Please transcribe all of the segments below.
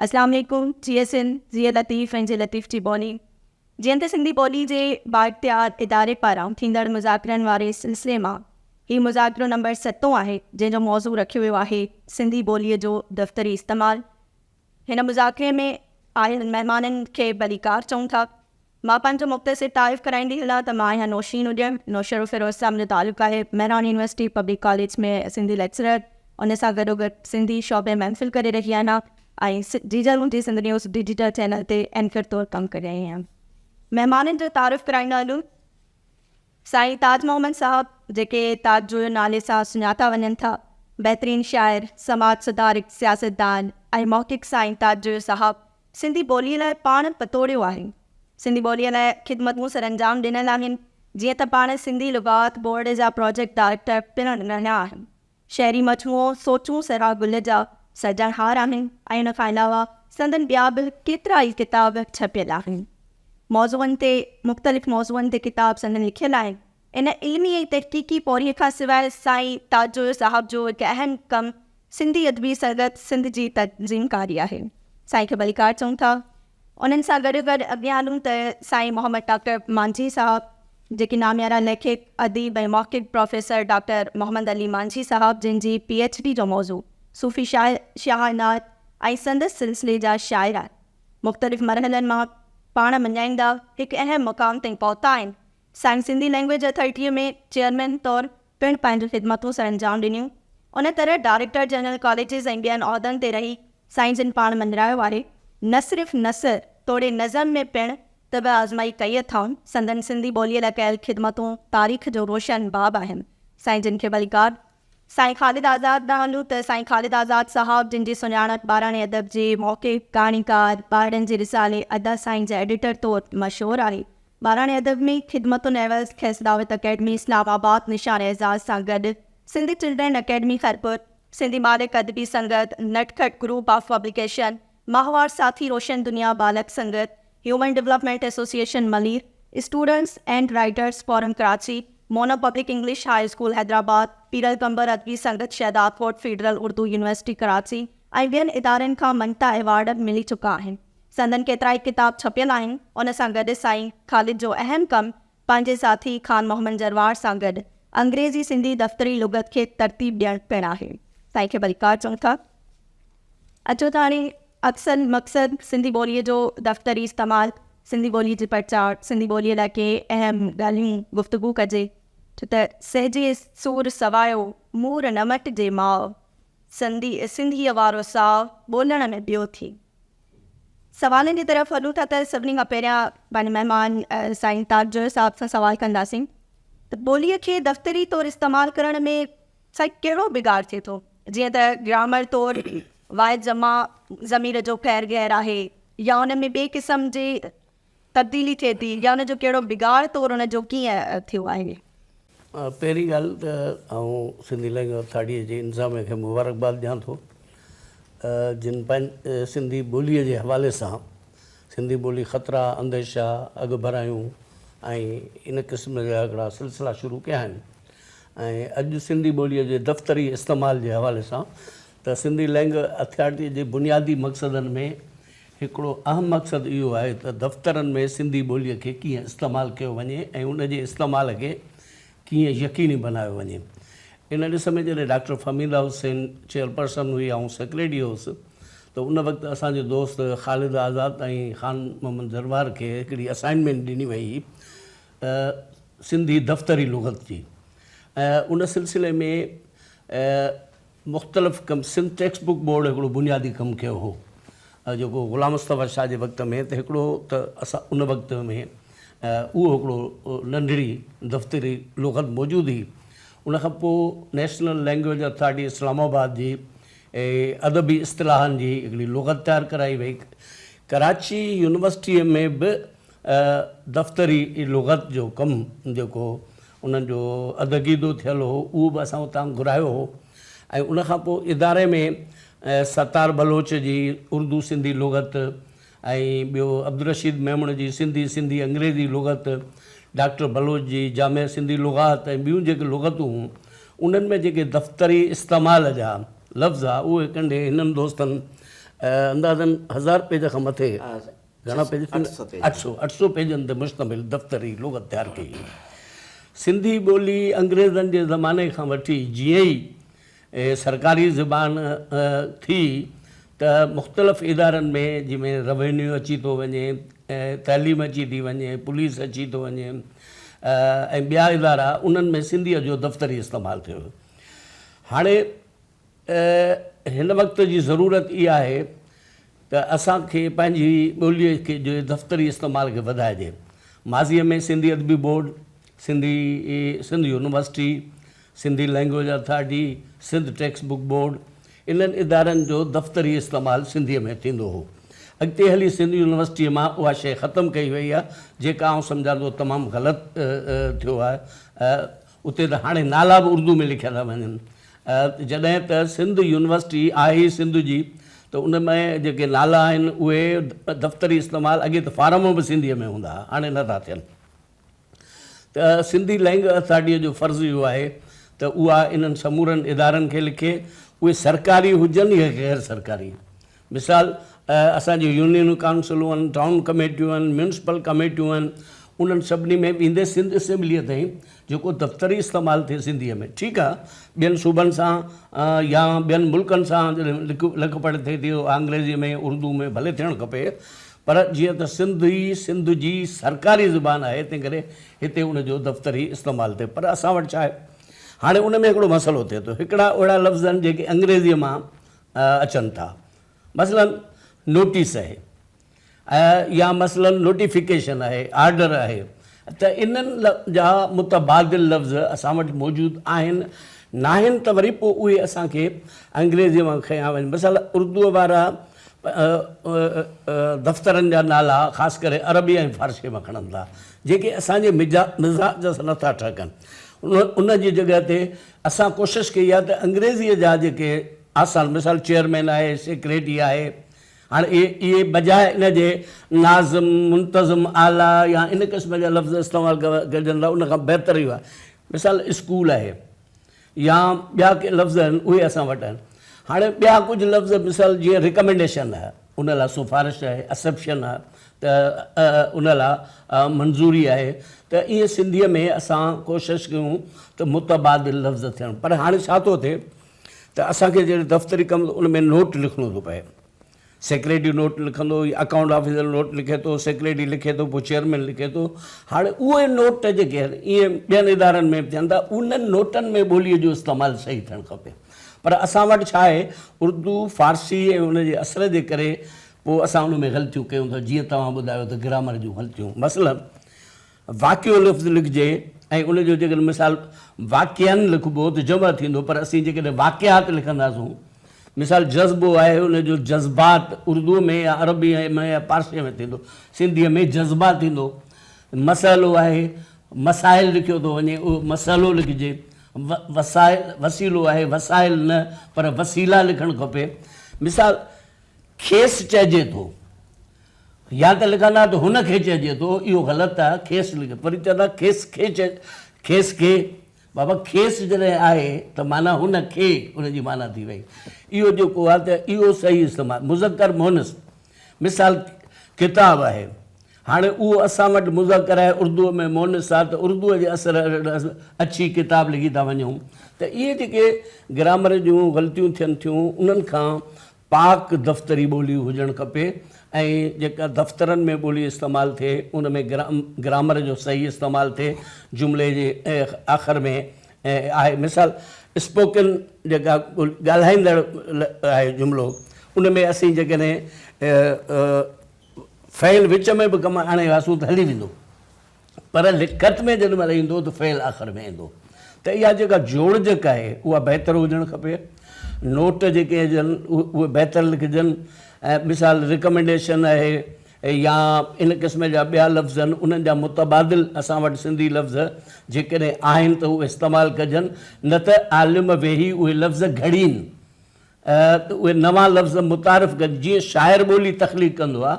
اسلام عليڪم جي ايس اين زيئي لطيف ۽ جي لطيف جي ٻولي جيئن ته سنڌي ٻولي جي بااختيار اداري پاران ٿيندڙ مذاڪرن واري سلسلي مان هي مذاڪرو نمبر ستون آهي جنهن جو موضوع رکيو ويو آهي سنڌي ٻولي جو دفتري استعمال هن مذاڪري ۾ آيل مهمانن کي ڀليڪار چئون ٿا. مان پنهنجو مختصر تعارف ڪرائيندي هلان ته مان آهيان نوشين اڏيڻ، نوشهروفيروزشاهه منهنجو تعلق آهي، Mehran university public college ۾ Sindhi lecturer, ان سان گڏوگڏ سنڌي شعبي ۾ ايم فل ڪري رهي آهيان ۽ جيجل منهنجي سنڌ نيوز ڊجيٽل چينل تي اينڪر طور ڪم ڪري رهي آهيان. مهمانن جو تعارف ڪرائيندا هلون. سائين تاج محمد صاحب جيڪي تاج جويو نالي سان سڃاتا وڃن ٿا، بهترين شاعر، سماج سڌارڪ، سياستدان ۽ محقق سائين تاج جويو صاحب سنڌي ٻوليء لاء پاڻ پتوڙيو آهي. سنڌي ٻوليء لاء خدمتون سرانجام ڏنل آهن، جيئن ته پاڻ سنڌي لغات بورڊ جا پراجيڪٽ ڊائريڪٽر پڻ رهيا آهن. شعري مجموعو سوچون سرها گل جا سرجڻهار آهن ۽ ان کان علاوه سندن ٻيا به ڪيترا ئي ڪتاب ڇپيل آهن. موضوعن تي مختلف موضوعن تي ڪتاب سندن لکيل آهن. ان علمي ۽ تحقيقي پورهيي کان سواء سائين تاجزوير صاحب جو هڪ اهم ڪم سنڌي ادبي سنگت سنڌ جي تنظيمڪاري آهي. سائين کي ڀليڪار چئون ٿا. انهن سان گڏ گڏ اڳيان هلون ته سائين محمد ڊاڪٽر مانجهي صاحب جيڪي ناميارا ليکڪ، اديب ۽ محقق پروفيسر ڊاڪٽر محمد علي مانجهي صاحب جن جي پي ايڇ ڊي جو موضوع صوفي شاعر شاهه نعت ۽ سندس سلسلي جا شاعر مختلف مرحلن مان پاڻ مڃائيندا هڪ اهم مقام تائين پهتا آهن سائين سنڌي لئنگويج اٿارٽيء ۾ چيئرمين طور پڻ پنهنجون خدمتون سرانجام ڏنيون. ان طرح ڊائريڪٽر جنرل ڪاليجز ۽ ٻين عهدن تي رهي سائين جن پاڻ مڃرايو واري نه صرف نثر توڙي نظم ۾ پڻ طبع آزمائي ڪئي اٿائون. سندن سنڌي ٻوليء لاء ڪيل خدمتون تاريخ جو روشن باب آهن. سائين جن کي ڀليڪار سائين خالد آزاد ڏانهن هلون ته سائين خالد آزاد صاحب جن جي سڃاڻپ ٻاراڻي ادب جي محقق، ڪهاڻيڪار، ٻارڙن جي رسالي ادا سائين جي ايڊيٽر طور مشهور آهي. ٻاراڻي ادب ۾ خدمتن عيوض کيس دعوت اڪيڊمي اسلام آباد نشان اعزاز سان گڏ سنڌ چلڊرين اڪيڊمي خيرپور، سنڌي ٻالڪ ادبي سنگت، نٽ کٽ گروپ آف پبليڪيشن، ماهوار ساٿي روشن دنيا ٻالڪ سنگت، human development association Malir, students and writers forum Karachi, Mona public English high school Hyderabad, پيرل قمبر ادبي سنگت شهدادڪوٽ فيڊرل اردو يونيورسٽي ڪراچي ۽ ٻين ادارن کان مڃتا ايوارڊ ملي چڪا آهن. سندن ڪيترائي ڪتاب ڇپيل آهن. ان سان گڏ سائين خالد جو اهم ڪم پنهنجي ساٿي خان محمد جروار سان گڏ انگريزي سنڌي دفتري لغت کي ترتيب ڏيڻ پڻ آهي. سائين کي ڀليڪار چئون ٿا. اچو ته هاڻي اصل مقصد سنڌي ٻوليء جو دفتري استعمال، سنڌي ٻوليء جي پرچار، سنڌي ٻوليء لاء ڪي اهم ڳالهيون گفتگو ڪجي ڇو ته سهجي سور سوايو مور نه مٽجي ماء، سنڌيء وارو ساء ٻولڻ ۾ ٻيو ٿي. سوالن جي طرف هلون ٿا ته سڀني کان پهريان پنهنجي مهمان سائين تاج جويو صاحب سان سوال ڪنداسين ته ٻوليء کي دفتري طور استعمال ڪرڻ ۾ سائين ڪهڙو بگاڙ ٿئي ٿو جيئن ته گرامر طور واحد جمع ضمير جو خير غير آهي يا ان ۾ ٻئي قسم جي تبديلي ٿئي ٿي يا ان جو ڪهڙو بگاڙ طور ان جو ڪيئن ٿيو آهي؟ پهرين ڳالهه ته آئون سنڌي لينگويج اٿارٽيء جي انتظاميه کي مبارڪباد ڏيان ٿو جن سنڌي ٻوليء جي حوالي سان سنڌي ٻولي خطرا، انديشا، اڳڀرايون ۽ ان قسم جا هڪڙا سلسلا شروع ڪيا آهن ۽ اڄ سنڌي ٻوليء جي دفتري استعمال جي حوالي سان ته سنڌي لئنگ اٿارٽيء جي بنيادي مقصدن ۾ هڪڙو اهم مقصد اهو آهي ته دفترن ۾ سنڌي ٻوليء کي ڪيئن استعمال ڪيو وڃي ۽ ان جي استعمال کي ڪيئن يقيني بنايو وڃي. ان ڏس ۾ جڏهن ڊاڪٽر فهميده حسين چيئرپرسن هئي آئون سيڪريٽري هوس ته ان وقت اسان جي دوست خالد آزاد ۽ خان محمد جروار کي هڪڙي اسائنمينٽ ڏني وئي هئي ته سنڌي دفتري لغت جي ۽ ان سلسلي ۾ مختلف ڪم سنڌ ٽيڪسٽ بوڪ بورڊ هڪڙو بنيادي ڪم ڪيو هو جيڪو غلام مصطفيٰ شاهه جي وقت ۾ ته هڪڙو ته اسان ان وقت ۾ اهو هڪڙو ننڍڙي دفتري لغت موجود هئي ان کان پوء national language authority Islamabad جي ادبي اصطلاحن جي هڪڙي لغت تيار ڪرائي وئي ڪراچي يونيورسٽيء ۾ به دفتري لغت جو ڪم جيڪو انهن جو ادعقيدو ٿيل هو اهو به اسان اتان گهرايو هو ۽ ان کان پوء اداري ۾ ستار بلوچ جي اردو سنڌي لغت ۽ ٻيو عبدالرشيد ميمڻ جي سنڌي سنڌي انگريزي لغت، ڊاڪٽر بلوچ جي جامع سنڌي لغات ۽ ٻيون جيڪي لغتون هون انهن ۾ جيڪي دفتري استعمال جا لفظ ها اهي ڪنڍي هنن دوستن اندازن هزار پيج کان مٿي گهڻا پيج ٿيندا؟ اٺ سؤ پيج. اٺ سؤ. اٺ سؤ پيجن تي مشتمل دفتري لغت تيار ڪئي وئي. سنڌي ٻولي انگريزن جي زماني کان وٺي جيئن ئي سرڪاري زبان ٿي ته مختلف ادارن ۾ جنهن ۾ روينيو اچي ٿو وڃي، تعليم اچي ٿي وڃي، پوليس اچي ٿو وڃي ۽ ٻيا ادارا انهن ۾ سنڌيء جو دفتري استعمال ٿيو ويو. هاڻي ته هن وقت جي ضرورت اها آهي ته اسان کي پنهنجي ٻوليء جي دفتري استعمال کي وڌائجي. ماضيء ۾ سنڌي ادبي board, Sindhi Sindh university, Sindhi language authority, Sindh textbook board انهن ادارن جو دفتري استعمال سنڌيء ۾ ٿيندو هو. اڳتي هلي سنڌ يونيورسٽيء مان اها شيء ختم ڪئي وئي آهي، جيڪا آئون سمجهان ٿو تمام غلط ٿيو آهي. اتي ته هاڻي نالا به اردو ۾ لکيا ٿا وڃن جڏهن ته سنڌ يونيورسٽي آهي ئي سنڌ جي ته ان ۾ جيڪي نالا آهن اهي دفتري استعمال اڳي ته فارم به سنڌيء ۾ هوندا ها هاڻي نه ٿا ٿين ته سنڌي لئنگ اٿارٽيء جو فرض اهو آهي ته اها انهن سمورن ادارن کي لکي اهي سرڪاري هجن يا غير سرڪاري مثال، اسان جون يونينون، ڪائونسلون آهن، ٽائون ڪميٽيون آهن، ميونسپل ڪميٽيون آهن، انهن سڀني ۾ به ايندي سنڌ اسيمبليء تائين جيڪو دفتري استعمال ٿئي سنڌيء ۾ ٺيڪ آهي، ٻين صوبن سان يا ٻين ملڪن سان جڏهن لک پڙهه ٿئي ٿي اها انگريزيء ۾ اردوء ۾ ڀلي ٿيڻ کپي پر جيئن ته سنڌي سنڌ جي سرڪاري زبان آهي تنهنڪري هتي ان جو دفتري استعمال ٿئي پر اسان وٽ ڇا آهي هاڻي ان ۾ هڪڙو مسئلو ٿئي ٿو هڪڙا اهڙا لفظ آهن جيڪي انگريزيء مان اچن ٿا مثلاً نوٽيس اهي يا مثلاً نوٽيفڪيشن اهي آرڊر اهي ته انهن جا متبادل لفظ اسان وٽ موجود آهن ناهن ته وري پوء اهي اسان کي انگريزيء مان کنيا وڃن مثلاً اردوء وارا دفترن جا نالا خاص ڪري عربي ۽ فارسيء مان کڻن ٿا جيڪي اسان جي مزاج سان نٿا ٺهڪن ان جي جڳهه تي اسان ڪوشش ڪئي آهي ته انگريزيء جا جيڪي آسان مثال چيئرمين آهي، سيڪريٽري آهي، هاڻي اهي بجاء ان جي ناظم، منتظم اعليٰ يا ان قسم جا لفظ استعمال ڪجن ته ان کان بهتر اهو آهي. مثال اسڪول آهي يا ٻيا ڪي لفظ آهن اهي اسان وٽ آهن. هاڻي ٻيا ڪجهه لفظ مثال جيئن رڪمينڊيشن آهي. ان لا سفارش آهي، اسپشن آهي ته ان لا منظوري آهي ته ائين سنڌيء ۾ اسان ڪوشش ڪيون ته متبادل لفظ ٿين پر هاڻي ڇا ٿو ٿئي ته اسان کي جڏهن دفتري ڪم ان ۾ نوٽ لکڻو ٿو پئي سيڪريٽري نوٽ لکندو يا اڪائونٽ آفيسر نوٽ لکي ٿو سيڪريٽري لکي ٿو پوء چيئرمين لکي ٿو هاڻي اهي نوٽ جيڪي ائين ٻين ادارن ۾ به ٿين ٿا انهن نوٽن ۾ ٻوليء جو استعمال صحيح ٿيڻ کپي پر اسان وٽ ڇا آهي اردو فارسي ۽ ان جي اثر جي ڪري پوء اسان ان ۾ غلطيون ڪيون ٿا جيئن توهان ٻڌايو ته گرامر جون غلطيون مثلا واقعو لفظ لکجي ۽ ان جو جيڪڏهن مثال واقعن لکبو ته جمع ٿيندو پر اسين جيڪڏهن واقعات لکنداسون مثال جذبو آهي ان جو جذبات اردو ۾ يا عربي ۾ يا پارسي ۾ ٿيندو سنڌي ۾ جذبا ٿيندو مسئلو آهي مسائل لکيو ٿو وڃي اهو مسئلو لکجي وسائل وسيلو آهي وسائل نه پر وسيلا لکڻ کپي مثال کيس چئجي ٿو يا ته لکن ها ته هن کي چئجي ٿو اهو غلط آهي کيس لکي پر چون ها کيس کي کيس کي بابا کيس جڏهن آهي ته معنی هن کي ان جي معنی ٿي وئي اهو جيڪو آهي ته اهو صحيح استعمال مذڪر مونس مثال ڪتاب آهي هاڻي اهو اسان وٽ مذڪر آهي اردوء ۾ مؤنث آ ته اردوء جي اثر هيٺ اڇي ڪتاب لکي ٿا وڃون ته اهي جيڪي گرامر جون غلطيون ٿين ٿيون انهن کان پاڪ دفتري ٻولي هجڻ کپي ۽ جيڪا دفترن ۾ ٻولي استعمال ٿئي ان ۾ گرامر جو صحيح استعمال ٿئي جملي جي آخر ۾ آهي مثال اسپوڪن جيڪا ڳالهائيندڙ آهي جملو ان ۾ اسين جيڪڏهن فعل وچ ۾ به ڪم آڻي وياسون ته هلي ويندو پر لکت ۾ جيڏي مهل ايندو ته فعل آخر ۾ ايندو ته اها جيڪا جوڙجڪ آهي اها بهتر هجڻ کپي نوٽ جيڪي هجن اهي بهتر لکجن ۽ مثال رڪمنڊيشن آهي يا ان قسم جا ٻيا لفظ آهن انهن جا متبادل اسان وٽ سنڌي لفظ جيڪڏهن آهن ته اهي استعمال ڪجن نه ته عالم ويهي اهي لفظ گهڙين ته اهي نوان لفظ متعارف ڪجن جيئن شاعر ٻولي تخليق ڪندو آهي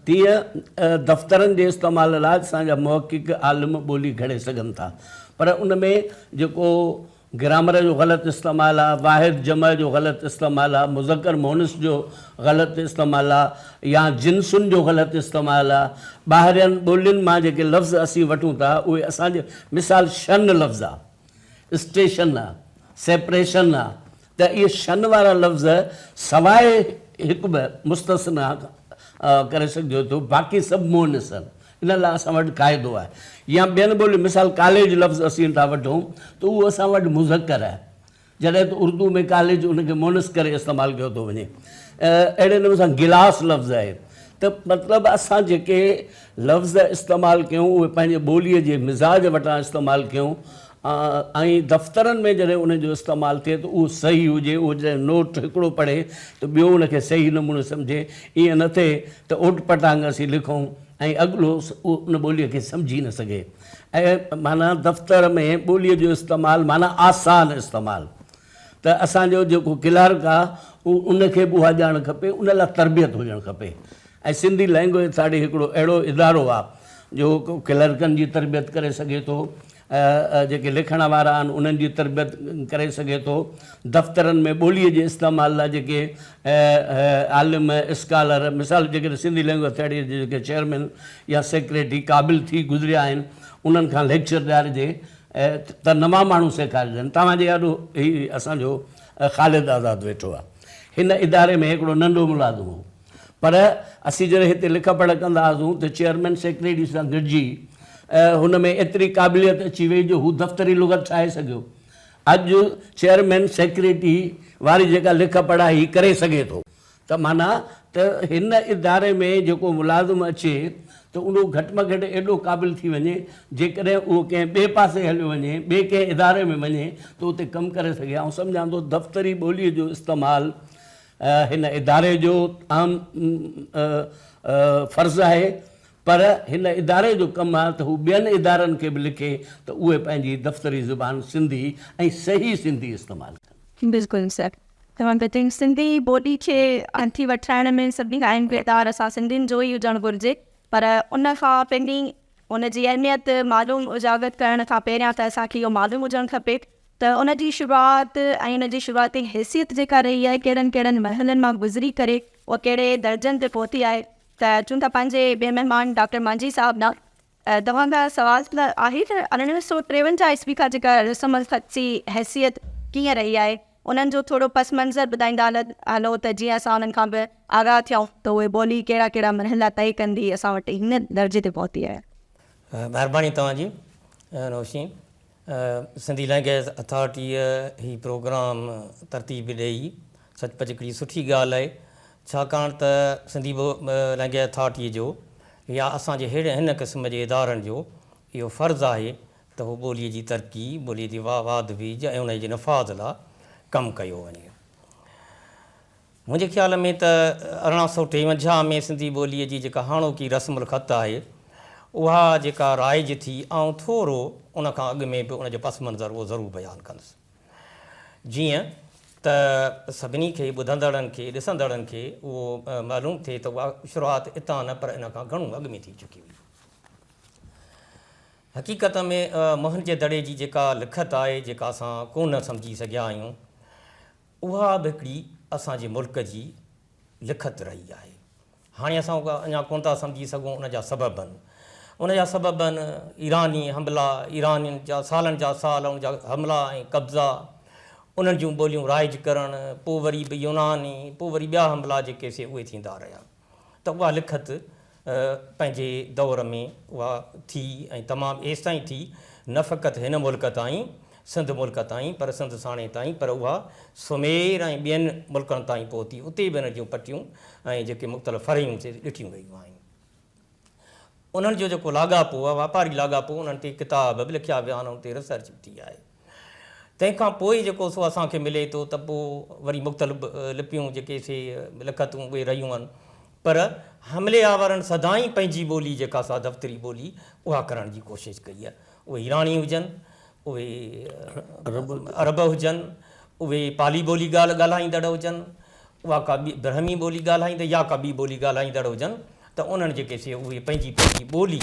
تيئن دفترن جي استعمال لاء اسان جا محقق عالم ٻولي گهڙي سگهن ٿا پر ان ۾ جيڪو گرامر جو غلط استعمال آهي واحد جمع جو غلط استعمال آهي مذڪر مؤنث جو غلط استعمال آهي يا جنسن جو غلط استعمال آهي ٻاهرين ٻولين مان جيڪي لفظ اسين وٺون ٿا اهي اسان جي مثال شن لفظ آهي اسٽيشن، سيپريشن، ته اهي شن وارا لفظ سواء هڪ به مستثنيٰ ڪري سگهجي ٿو، باقي سڀ مؤنث آهن. ان لاء اسان وٽ قاعدو آهي. يا ٻين ٻولين مثال ڪاليج لفظ اسين ٿا وٺون ته اهو اسان وٽ مذڪر آهي. جڏهن ته اردو ۾ ڪاليج ان کي مونث ڪري استعمال ڪيو ٿو وڃي اهڙي نموني سان گلاس لفظ آهي ته مطلب اسان جيڪي لفظ استعمال ڪيون اهي پنهنجي ٻوليء جي مزاج وٽان استعمال ڪيون ۽ دفترن ۾ جڏهن ان جو استعمال ٿئي ته اهو صحيح هجي اهو جڏهن نوٽ هڪڙو پڙهي ته ٻيو ان کي صحيح نموني سمجهي ائين نه ٿئي ته اوٽ پٽانگ اسين لکون ۽ اڳلو ان ٻوليء کي سمجهي نه سگهي. اهي معنيٰ دفتر ۾ ٻوليء جو استعمال معنيٰ آسان استعمال ته اسان جو جيڪو ڪلارڪ آ ان کي به اها ڄاڻ کپي ان لا تربيت هجڻ کپي ۽ سنڌي لئنگوئيج اٿارٽي هڪڙو اهڙو ادارو آ جو ڪلرڪن جي تربيت ڪري سگهي ٿو جيڪي لکڻ وارا آهن انهن جي تربيت ڪري سگهي ٿو دفترن ۾ ٻوليء جي استعمال لا جيڪي عالم اسڪالر مثال جيڪي سنڌي لئنگوئيج اٿارٽي جي جيڪي چيئرمين يا سيڪريٽري قابل ٿي گذريا آهن انهن کان ليڪچر ڏيارجي ته نوان ماڻهو سيکارجن توهان جي آڏو هي اسان جو خالد آزاد ويٺو آهي هن اداري ۾ هڪڙو ننڍو ملازم هو پر اسين جڏهن هتي لک پڙهه ڪندا هئاسون ته چيئرمين سيڪريٽري سان گڏجي هن ۾ ايتري قابليت اچي وئي جو هو دفتري لغت ٺاهي سگهيو اڄ چيئرمين سيڪريٽري واري جيڪا لک پڙهه هي ڪري سگهي ٿو ته معنيٰ ته هن اداري ۾ جيڪو ملازم اچي ته اهو گهٽ ۾ گهٽ ايڏو قابل ٿي وڃي جيڪڏهن اهو ڪنهن ٻئي پاسي هليو وڃي ٻئي ڪنهن اداري ۾ وڃي ته اتي ڪم ڪري سگهي آئون سمجهان ٿو دفتري ٻولي جو استعمال هن اداري جو اهم فرض آهي پر هن اداري جو ڪم آهي ته هو ٻين ادارن کي به لکي ته اهي پنهنجي دفتري زبان سنڌي ۽ صحيح سنڌي استعمال ڪن. بلڪل سر توهان ٻڌي سنڌي ٻولي کي هٿي وٺرائڻ ۾ سڀني کان اهم ڪردار اسان سنڌين جو ئي هجڻ گهرجي پر ان کان پهرين ان جي اهميت معلوم اجاگر ڪرڻ کان پهريان ته اسان کي اهو معلوم هجڻ کپي ته ان جي شروعات ۽ ان جي شروعاتي حيثيت جيڪا رهي آهي ڪهڙن ڪهڙن مرحلن مان گذري ڪري اها ڪهڙي درجن تي پهتي آهي ته چون ٿا پنهنجي ٻئي مهمان ڊاڪٽر مانجهي صاحب ڏانهن توهان کان سوال ته آهي ته ارڙهن سؤ ٽيونجاهه عيسوي کان جيڪا رسم الخط جي حيثيت ڪيئن رهي آهي انهن جو ٿورو پس منظر ٻڌائيندا هلو ته جيئن اسان انهن کان به آگاهه ٿيون ته اهي ٻولي ڪهڙا ڪهڙا مرحلا طئي ڪندي اسان وٽ هن درجي تي پهتي آهي. مهرباني توهان جي روشني. سنڌي لئنگئيز اٿارٽيء هي پروگرام ترتيب ڏئي سچ پچ هڪڙي سٺي ڳالهه آهي ڇاڪاڻ ته سنڌي لئنگئيز اٿارٽيء جو يا اسان جي ههڙي هن قسم جي ادارن جو اهو فرض آهي ته هو ٻوليء جي ترقي، ٻوليء جي واڌ ويجهه ۽ انهيء جي نفاذ لا ڪم ڪيو وڃي. منهنجي خيال ۾ ته ارڙهن سؤ ٽيونجاهه ۾ سنڌي ٻوليء جي جيڪا هاڻوڪي رسم الخط آهي، اها جيڪا رائج ٿي، آئون ٿورو ان کان اڳ ۾ به ان جو پس منظر اهو ضرور بيان ڪندس. جيئن ته سڀني کي، ٻڌندڙن کي، ڏسندڙن کي اهو معلوم ٿئي ته اها شروعات اتان نه پر ان کان گهڻو اڳ ۾ ٿي چڪي هئي. حقيقت ۾ موهن جي دڙي جي جيڪا لکت آهي، جيڪا اسان ڪونه سمجهي سگهيا آهيون، اها به هڪڙي اسان جي ملڪ جي لکت رهي آهي. هاڻي اسان اها اڃا ڪونه ٿا سمجهي سگهون ان جا سبب. ان جا سبب آهن ايراني حملا، ايرانين جا سالن جا سال ان جا حملا ۽ قبضا، انهن جون ٻوليون رائج ڪرڻ، پوء وري به يوناني، پوء وري ٻيا حملا جيڪي سي اهي ٿيندا رهيا. ته اها لکت پنهنجي دور ۾ اها ٿي ۽ تمام ايستائين ٿي نه فقط هن ملڪ تائين، سنڌ ملڪ تائين، پر سنڌ ساڻي تائين، پر اها سمير ۽ ٻين ملڪن تائين پهتي، اتي به ان جون پٽيون ۽ جيڪي مختلف فرعيون سي ڏٺيون ويون آهن. انهن جو جيڪو لاڳاپو آهي، واپاري لاڳاپو، انهن تي ڪتاب به لکيا ويا آهن، ان تي ريسرچ به ٿي آهي. تنهن کان پوء جيڪو سو اسان کي ملي ٿو ته پوء وري مختلف لپيون جيڪي سي لکتون اهي رهيون آهن پر حملي آورن سدائين پنهنجي ٻولي جيڪا سا دفتري ٻولي اها ڪرڻ جي ڪوشش ڪئي آهي اهي ايراني هجن اهي عرب هجن اهي پالي ٻولي ڳالهه ڳالهائيندڙ هجن اها ڪا ٻي برهمي ٻولي ڳالهائيندڙ يا ڪا ٻي ٻولي ڳالهائيندڙ هجن ته انهن جيڪي سي اهي پنهنجي پنهنجي ٻولي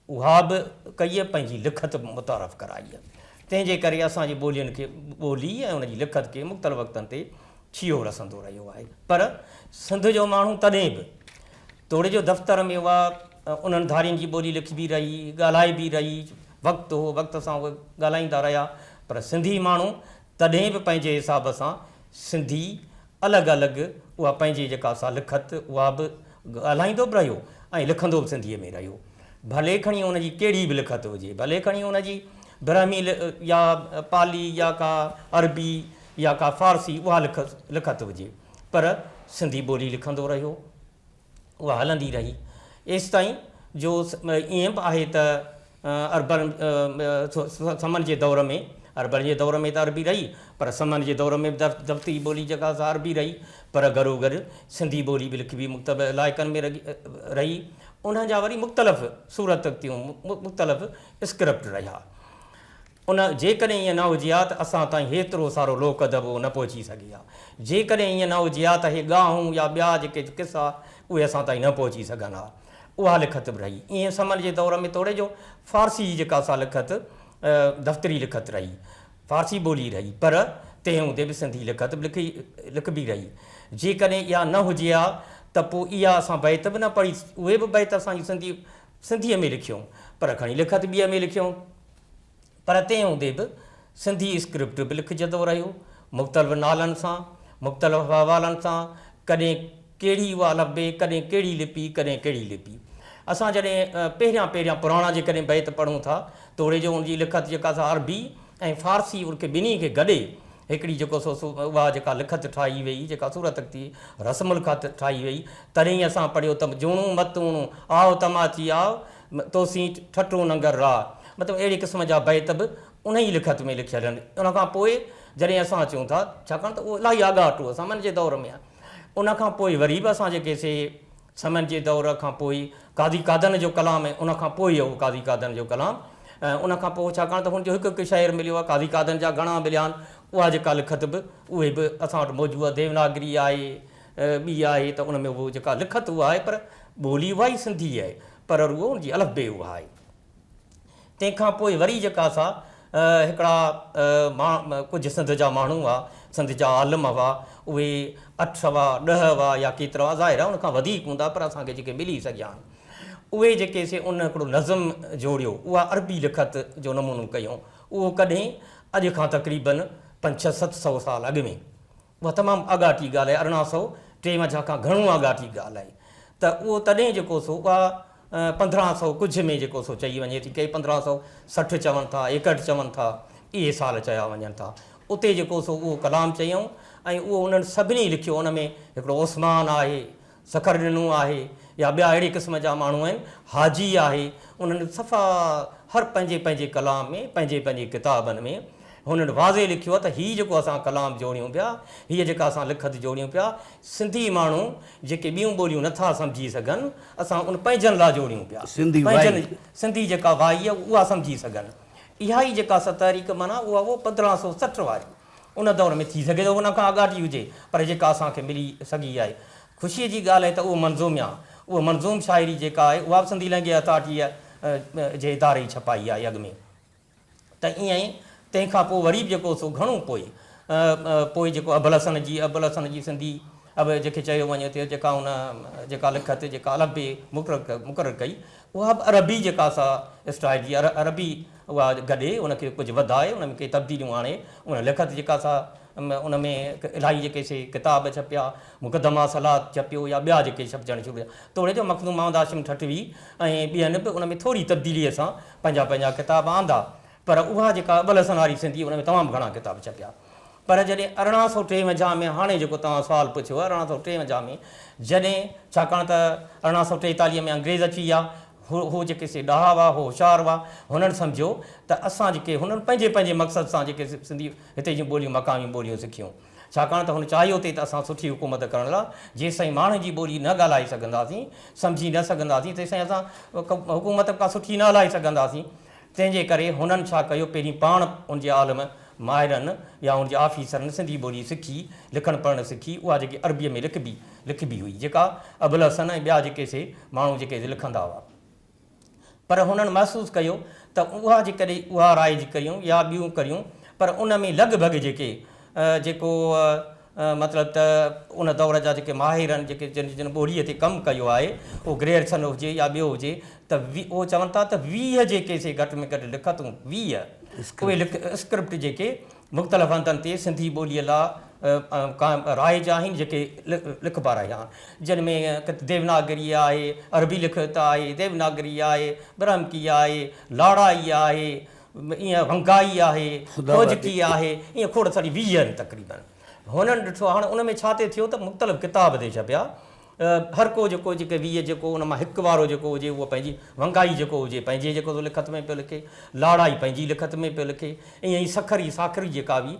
اها به ڪيئي پنهنجي لکت متعارف ڪرائي. تنهن جي ڪري اسان جي ٻولين کي ٻولي ۽ ان جي لکت کي مختلف وقتن تي ڇيهو رسندو رهيو آهي. پر سنڌ جو ماڻهو تڏهن به توڙي جو دفتر ۾ اها انهن ڌارين جي ٻولي لکبي رهي، ڳالهائبي رهي، وقت هو وقت سان اهي ڳالهائيندا رهيا پر سنڌي ماڻهو تڏهن به پنهنجي حساب سان سنڌي الڳ الڳ اها پنهنجي جيڪا سا لکت اها به ڳالهائيندو به رهيو ۽ لکندو به سنڌيء ۾ رهيو. ڀلي کڻي ان جي ڪهڙي به لکت هجي، ڀلي کڻي ان جي برهمي يا پالي يا ڪا عربي يا ڪا فارسي اها لکت هجي پر سنڌي ٻولي لکندو رهيو. اها هلندي رهي ايستائين جو ائين به آهي ته اربن سمن جي دور ۾ اربن جي دور ۾ ته عربي رهي پر سمن جي دور ۾ به دفتري ٻولي جيڪا سا عربي رهي پر گهرو گهر سنڌي ٻولي به لکبي مختلف علائقن ۾ رهي انهن جا وري مختلف صورتون مختلف اسڪرپٽ رهيا. ان جيڪڏهن ائين نه هجي ها ته اسان تائين هيترو سارو لوڪ ادب نه پهچي سگهي ها. جيڪڏهن ائين نه هجي ها ته اهي ڳاهون يا ٻيا جيڪي قصا اهي اسان تائين نه پهچي سگهن ها. اها لکت به رهي ائين سمن جي دور ۾ توڙي جو فارسي جي جيڪا سا لکت دفتري لکت رهي، فارسي ٻولي رهي پر تنهن هوندي به سنڌي لکت به لکبي رهي. جيڪڏهن اها نه هجي ها ته پوء اها اسان بيت به نه پڙهي اهي به بيت اسان جون سنڌي سنڌيء ۾ لکيون پر کڻي لکت ٻيء ۾ لکيون. پر تنهن هوندي به سنڌي اسڪرپٽ به لکجندو رهيو، مختلف نالن سان، مختلف حوالن سان، ڪڏهن ڪهڙي اها الفبي، ڪڏهن ڪهڙي لپي، ڪڏهن ڪهڙي لپي. اسان جڏهن پهريان پهريان پراڻا جيڪڏهن بيت پڙهون ٿا، توڙي جو ان جي لکت جيڪا سا عربي ۽ فارسي ان کي ٻنهي کي گڏي هڪڙي جيڪو سو اها جيڪا لکت ٺاهي ويئي، جيڪا صورت اختي رسم الخط ٺاهي ويئي، تڏهن اسان پڙهيو ته جوڻون متوڻون، آء تماچي آء، تو سين ٺٽو ننگر راء مطلب اهڙي قسم جا بيت به انهيء لکت ۾ لکيل آهن. ان کان پوء جڏهن اسان اچون ٿا، ڇاڪاڻ ته اهو الاهي آڳاٽو اسان من جي دور ۾، ان کان پوء وري به اسان جيڪي سي سمن جي دور کان پوء قاضي قادن جو ڪلام ۽ ان کان پوء اهو قاضي قادن جو ڪلام ۽ ان کان پوء ڇاڪاڻ ته هن جو هڪ هڪ شعر مليو آهي، قاضي قادن جا گهڻا مليا آهن، اها جيڪا لکت به اهي به اسان وٽ موجود آهي، ديوناگري آهي، ٻي آهي ته ان ۾ اهو جيڪا لکت اها آهي پر ٻولي اها ئي سنڌي آهي پر رڳو ان جي الف بي اها آهي. تنهن کان پوء وري جيڪا سا هڪڙا ڪجهه سنڌ جا ماڻهو هئا، سنڌ جا عالم هئا، اهي اٺ هئا، ڏهه هئا يا ڪيترا هئا، ظاهر آهي ان کان وڌيڪ هوندا پر اسان کي جيڪي ملي سگهيا آهن، اهي جيڪي سي ان هڪڙو نظم جوڙيو، اها عربي لکت جو نمونو ڪيائون، اهو ڪڏهن اڄ کان تقريبن پنج ڇهه ست سؤ سال اڳ ۾. اها تمام آڳاٽي ڳالهه آهي ارڙهن سؤ ٽيونجاهه کان گهڻو آڳاٽي ڳالهه آهي ته اهو تڏهن جيڪو سو اها پندرهن سؤ ڪجهه ۾ جيڪو سو چئي وڃي ٿي ڪي پندرهن سؤ سٺ چون ٿا ايڪهٺ چون ٿا اهي سال چيا وڃن ٿا اتي جيڪو سو اهو ڪلام چيائون ۽ اهو انهن سڀني لکيو ان ۾ هڪڙو عثمان آهي سکر ڏنو آهي يا ٻيا اهڙي قسم جا ماڻهو آهن حاجي آهي انهن صفا هر پنهنجي پنهنجي ڪلام ۾ پنهنجي پنهنجي ڪتابن ۾ هنن واضح لکيو آهي ته هي جيڪو اسان ڪلام جوڙيون پيا هي جيڪا اسان لکت جوڙيون پيا سنڌي ماڻهو جيڪي ٻيون ٻوليون نٿا سمجهي سگهن اسان ان پنهنجن لا جوڙيون پيا پنهنجن سنڌي جيڪا وائي آهي اها سمجهي سگهن اها ئي جيڪا ستحريڪ معنيٰ اها هو پندرهن سو سٺ واري ان دور ۾ ٿي سگهي ٿو ان کان اڳاٽي هجي پر جيڪا اسان کي ملي سگهي آهي. خوشيء جي ڳالهه آهي ته اهو منظوم يا اهو منظوم شاعري جيڪا آهي اها به سنڌي لهنگي اٿارٽيء جي اداري ئي ڇپائي آهي اڳ ۾ ته ائين ئي تنهن کان پوء وري به جيڪو سو گهڻو پوء پوء جيڪو ابوالحسن جي ابوالحسن جي سنڌي اب جنهن کي چيو وڃي ٿو جيڪا ان جيڪا لکت جيڪا الف بي مقرر ڪئي اها به عربي جيڪا سا اسٽائيل جي عربي اها گڏي ان کي ڪجهه وڌائي ان ۾ ڪي تبديليون آڻي ان لکت جيڪا سا ان ۾ الائي جيڪي سي ڪتاب ڇپيا مقدمه صلات ڇپيو يا ٻيا جيڪي ڇپجڻ شروع ٿيا توڙي جو مخدوم محمد هاشم ٺٽوي ۽ ٻين به ان ۾ ٿوري تبديليء سان پنهنجا پنهنجا ڪتاب آندا پر اها جيڪا ابوالحسن هاري سنڌيء ان ۾ تمام گهڻا ڪتاب ڇپيا. پر جڏهن ارڙهن سؤ ٽيونجاهه ۾ هاڻي جيڪو توهان سوال پڇيو ارڙهن سؤ ٽيونجاهه ۾ جڏهن ڇاڪاڻ ته ارڙهن سؤ ٽيتاليهه ۾ انگريز اچي ويا هو هو جيڪي سي ڏاها هئا هو هوشيار هئا هنن سمجهيو ته اسان جيڪي هنن پنهنجي پنهنجي مقصد سان جيڪي سنڌي هتي جون ٻوليون مقامي ٻوليون سکيون ڇاڪاڻ ته هن چاهيو ٿي ته اسان سٺي حڪومت ڪرڻ لا جيستائين ماڻهن جي ٻولي نه ڳالهائي سگهنداسين سمجهي نه سگهنداسين تيستائين اسان حڪومت ڪا سٺي نه هلائي سگهنداسين تنهن جي ڪري هنن ڇا ڪيو پهرين پاڻ ان جي عالم ماهرن يا ان جي آفيسرن سنڌي ٻولي سکي، لکڻ پڙهڻ سکي، اها جيڪي عربيء ۾ لکبي لکبي هئي، جيڪا ابوالحسن ۽ ٻيا جيڪي سي ماڻهو جيڪي سي لکندا هئا. پر هنن محسوس ڪيو ته اها جيڪڏهن اها رائج ڪريون يا ٻيون ڪريون پر ان ۾ لڳ ڀڳ جيڪي جيڪو مطلب ته ان دور جا جيڪي ماهر آهن، جيڪي جن ٻوليء تي ڪم ڪيو آهي، اهو گريئرسن هجي يا ٻيو هجي، ته اهو چون ٿا ته ويهه جيڪي سي گهٽ ۾ گهٽ لکتون، ويهه اهي اسڪرپٽ جيڪي مختلف هنڌن تي سنڌي ٻوليء لا قائم رائج آهن، جيڪي لکبا رهيا آهن، جن ۾ ديوناگري آهي، عربي لکت آهي، ديوناگري آهي، برهمڪي آهي، لاڙائي آهي، ايئن ونگائي آهي، کوجڪي آهي، ايئن کوڙ ساري ويهه آهن تقريبن. هنن ڏٺو هاڻ ان ۾ ڇا ٿي ٿيو ته مختلف ڪتاب ٿي ڇپيا. هرڪو جيڪو جيڪي ويهه جيڪو ان مان هڪ وارو جيڪو هجي اهو پنهنجي ونگائي جيڪو هجي پنهنجي جيڪو سو لکت ۾ پيو لکي، لاڙائي پنهنجي لکت ۾ پيو لکي، ايئن ئي سکري ساکري جيڪا هئي،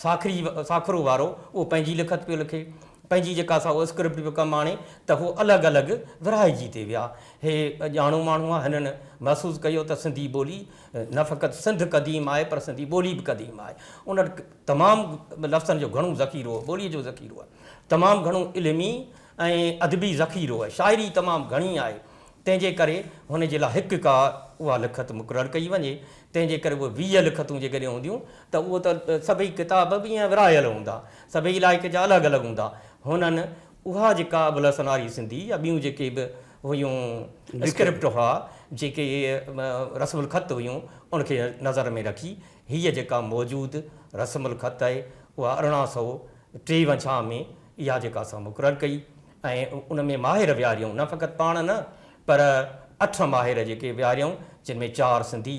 ساکري ساکرو وارو اهو پنهنجي لکت پيو لکي، پنهنجي جيڪا سا اسڪرپٽ پيو ڪم آڻي ته هو الڳ الڳ ورهائجي تي ويا. هي ڄاڻو ماڻهو آهي، هنن محسوس ڪيو ته سنڌي ٻولي نه فقط سنڌ قديم آهي پر سنڌي ٻولي به قديم آهي. ان وٽ تمام لفظن جو گهڻو ذخيرو هو، ٻوليء جو ذخيرو آهي. تمام گهڻو علمي ۽ ادبي ذخيرو آهي. شاعري تمام گهڻي آهي. تنهن جي ڪري هن جي لاء هڪ ڪا اها لکت مقرر ڪئي وڃي. تنهن جي ڪري اهي ويهه لکتون جيڪڏهن هونديون ته اهو ته سڀئي ڪتاب به ائين ورهايل هوندا. سڀئي علائقي جا الڳ الڳ هوندا. هنن اها جيڪا ابو الحسن آري سنڌي يا ٻيون جيڪي به هيون اسڪرپٽ هئا، جيڪي رسم الخط هيون، ان کي نظر ۾ رکي هيء جيڪا موجود رسم الخط آهي، اها ارڙهن سؤ ٽيونجاهه ۾ اها جيڪا اسان مقرر ڪئي ۽ ان ۾ ماهر ويهاريائون، نه فقط پاڻ نه، پر اٺ ماهر جيڪي ويهاريائون، جن ۾ چار سنڌي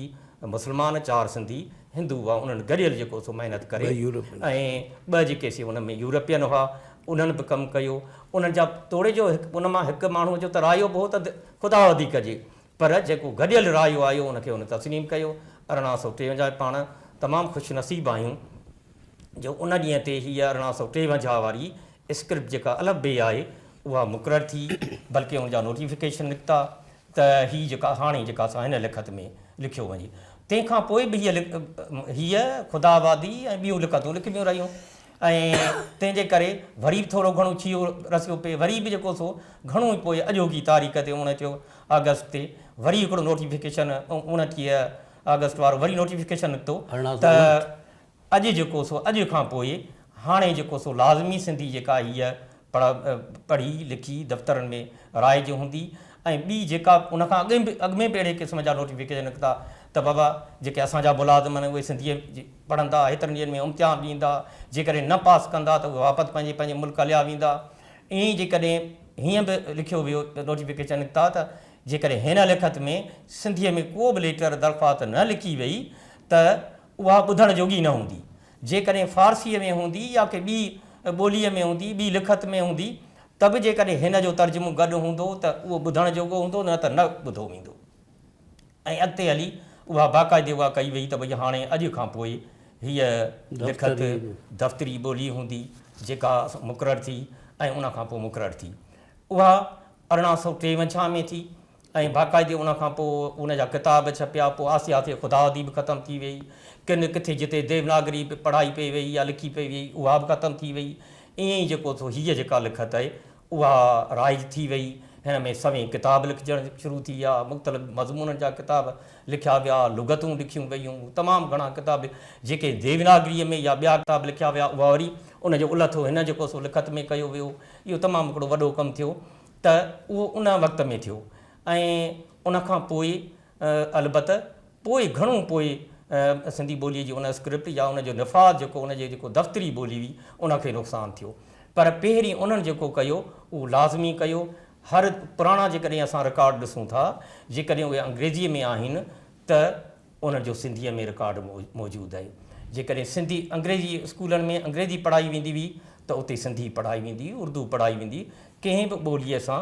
مسلمان، چار سنڌي هندو هئا، انهن گڏيل جيڪو سو محنت ڪري ۽ ٻه جيڪي سي ان ۾ يورپين هئا، انهن به ڪم ڪيو. انهن جا توڙي جو هڪ ان مان هڪ ماڻهوء جو ته رايو به هو ته خدا وڌيڪ هجي، پر جيڪو گڏيل رايو آيو، ان کي هن تسليم ڪيو. ارڙهن سؤ ٽيونجاهه پاڻ تمام خوش نصيب آهيون، جو ان ڏينهن تي هيء ارڙهن سؤ ٽيونجاهه واري اسڪرپٽ جيڪا الف بي آهي اها مقرر ٿي بلڪه ان جا نوٽيفڪيشن نڪتا ته هي جيڪا هاڻي جيڪا اسان هن لکت ۾ لکيو وڃي تنهن کان پوء به هيء هيء خدا آبادي ۽ ٻيون لکتون لکبيون رهيون ۽ تنهن جي ڪري وري به ٿورو گهڻو ڇيهو رسيو پئي وري به جيڪو سو گهڻو ئي پوء اڄوڪي تاريخ تي اڻٽيهه آگسٽ تي وري هڪڙو نوٽيفڪيشن اڻٽيهه آگسٽ وارو وري نوٽيفڪيشن نڪتو ته اڄ جيڪو سو اڄ کان پوء هاڻي جيڪو سو لازمي سنڌي جيڪا هيء پڙهي لکي دفترن ۾ رائج هوندي ۽ ٻي جيڪا ان کان اڳ به اڳ ۾ به اهڙي قسم جا نوٽيفڪيشن نڪتا ته بابا جيڪي اسان جا ملازم آهن اهي سنڌيء پڙهندا هيترن ڏينهن ۾ امتحان ڏيندا جيڪڏهن نه پاس ڪندا ته اهي واپس پنهنجي پنهنجي ملڪ هليا ويندا ائين ئي جيڪڏهن هيئن به لکيو ويو نوٽيفڪيشن نڪتا ته جيڪڏهن هن لکت ۾ سنڌيء ۾ ڪو به ليٽر درخواست نه لکي وئي ته اها ٻڌڻ جوڳي نه هوندي. جيڪڏهن فارسيء ۾ هوندي يا ڪنهن ٻي ٻوليء ۾ هوندي، ٻي لکت ۾ هوندي، ته به جيڪڏهن هن جو ترجمو گڏ هوندو ته اهو ٻڌڻ جوڳو هوندو، نه ته نه ٻڌو ويندو. ۽ اڳتي هلي اها باقاعدي اها ڪئي ويئي ته ڀئي هاڻي اڄ کان پوء هيء لکت دفتري ٻولي هوندي، جيڪا مقرر ٿي ۽ ان کان پوء مقرر ٿي. اها ارڙهن سؤ ٽيونجهه ۾ ٿي. ۽ باقاعدي ان کان پوء ان جا ڪتاب ڇپيا، پوء آھستي آھستي خداوڌي به ختم ٿي ويئي، ڪن ڪٿي جتي ديوناگري پڙھائي پئي ويئي يا لکي پئي ويئي اھا به ختم ٿي ويئي، ائين ئي جيڪو سو ھيء جيڪا لکت آھي اھا رائج ٿي ويئي، ھن ۾ سوين ڪتاب لکجڻ شروع ٿي ويا، مختلف مضمونن جا ڪتاب لکيا ويا، لغتون لکيون ويون، تمام گھڻا ڪتاب جيڪي ديوناگريء ۾ يا ٻيا ڪتاب لکيا ويا اھا وري ان جو الھٿو ھن جيڪو سو لکت ۾ ڪيو ويو، اھو تمام ھڪڙو وڏو ڪم ٿيو، ته اهو ان وقت ۾ ٿيو ۽ ان کان پوء البته پوء گهڻو پوء سنڌي ٻوليء جي ان اسڪرپٽ يا ان جو نفاذ جيڪو ان جي جيڪو دفتري ٻولي هئي ان کي نقصان ٿيو پر پهرين انهن جيڪو ڪيو اهو لازمي ڪيو هر پراڻا جيڪڏهن اسان رڪارڊ ڏسون ٿا جيڪڏهن اهي انگريزيء ۾ آهن ته انهن جو سنڌيء ۾ رڪارڊ موجود آهي. جيڪڏهن سنڌي انگريزي اسڪولن ۾ انگريزي پڙهائي ويندي هئي ته اتي سنڌي پڙهائي ويندي هئي، اردو پڙهائي ويندي هئي. ڪنهن به ٻوليء سان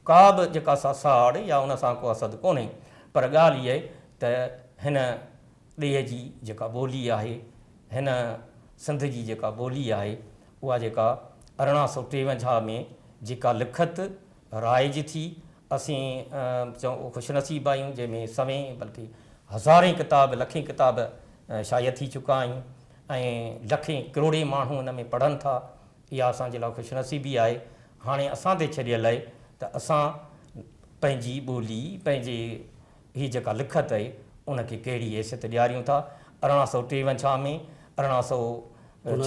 ڪا به جيڪا سا ساڙ يا ان سان ڪو حسد ڪونهي پر ڳالهه اها ته هن ڏيهه جي جيڪا ٻولي آهي، هن سنڌ جي جيڪا ٻولي آهي، اها جيڪا ارڙهن سؤ ٽيونجاهه ۾ جيڪا لکت رائج ٿي. اسين چئون خوش نصيب آهيون جنهن ۾ سوين بلڪه هزارين ڪتاب لکين ڪتاب شايع ٿي چڪا آهن ۽ لکين ڪروڙين ماڻهو ان ۾ پڙهن ٿا اها اسان جي لاء خوش نصيبي آهي هاڻي اسان تي ڇڏيل آهي ته اسان پنهنجي ٻولي پنهنجي هي جيڪا لکت اهي ان کي ڪهڙي حيثيت ڏياريون ٿا ارڙهن سؤ ٽيونجھا ۾ ارڙهن سؤ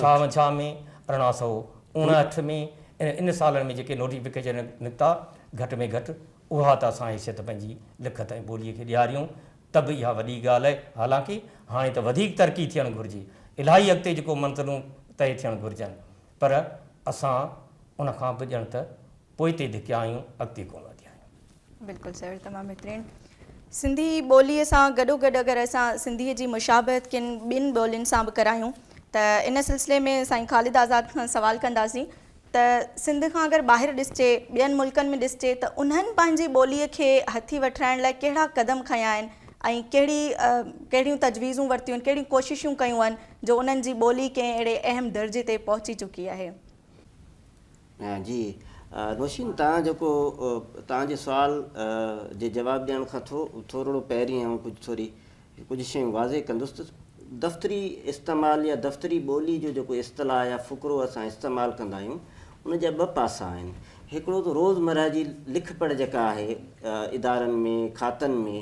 ڇاونجھا ۾ ارڙهن سؤ اڻهٺ ۾ ۽ ان سالن ۾ جيڪي نوٽيفڪيشن نڪتا گھٽ ۾ گھٽ اها ته اسان حيثيت پنهنجي لکت ۽ ٻولي کي ڏياريون ته به اها وڏي ڳالهه اهي حالانڪ هاڻي ته وڌيڪ ترقي ٿيڻ گھرجي الاهي اڳتي جيڪو منزلون طئي ٿيڻ گھرجن پر اسان ان کان به ڄڻ ته پوئتي ڌڪيا آهيون اڳتي ڪونه وڌيا آهيون. بلڪل سر تمام بهترين سنڌي ٻولي سان گڏوگڏ اگر اسان سنڌي جي مشابهت ڪن ٻين ٻولين سان به ڪرايون ته ان سلسلي ۾ سائين خالد آزاد کان سوال ڪنداسين ته سنڌ کان اگر ٻاهر ڏسجي ٻين ملڪن ۾ ڏسجي ته انهن پنهنجي ٻولي کي هٿي وٺرائڻ لاء ڪهڙا قدم کنيا آهن ۽ ڪهڙي ڪهڙيون تجويزون ورتيون آهن ڪهڙيون ڪوششون ڪيون آهن جو انهن جي ٻولي ڪنهن اهڙي اهم درجي تي پهچي چڪي آهي. جي نوشين توهان جيڪو توهان جي سوال جي جواب ڏيڻ کان ٿو ٿورڙو پهرين آئون ڪجهه ٿوري ڪجهه شيون واضح ڪندس ته دفتري استعمال يا دفتري ٻولي جو جيڪو اصطلاح يا فقرو اسان استعمال ڪندا آهيون ان جا ٻه پاسا آهن هڪڙو ته روز مرهه جي لک پڙهه جيڪا آهي ادارن ۾ کاتن ۾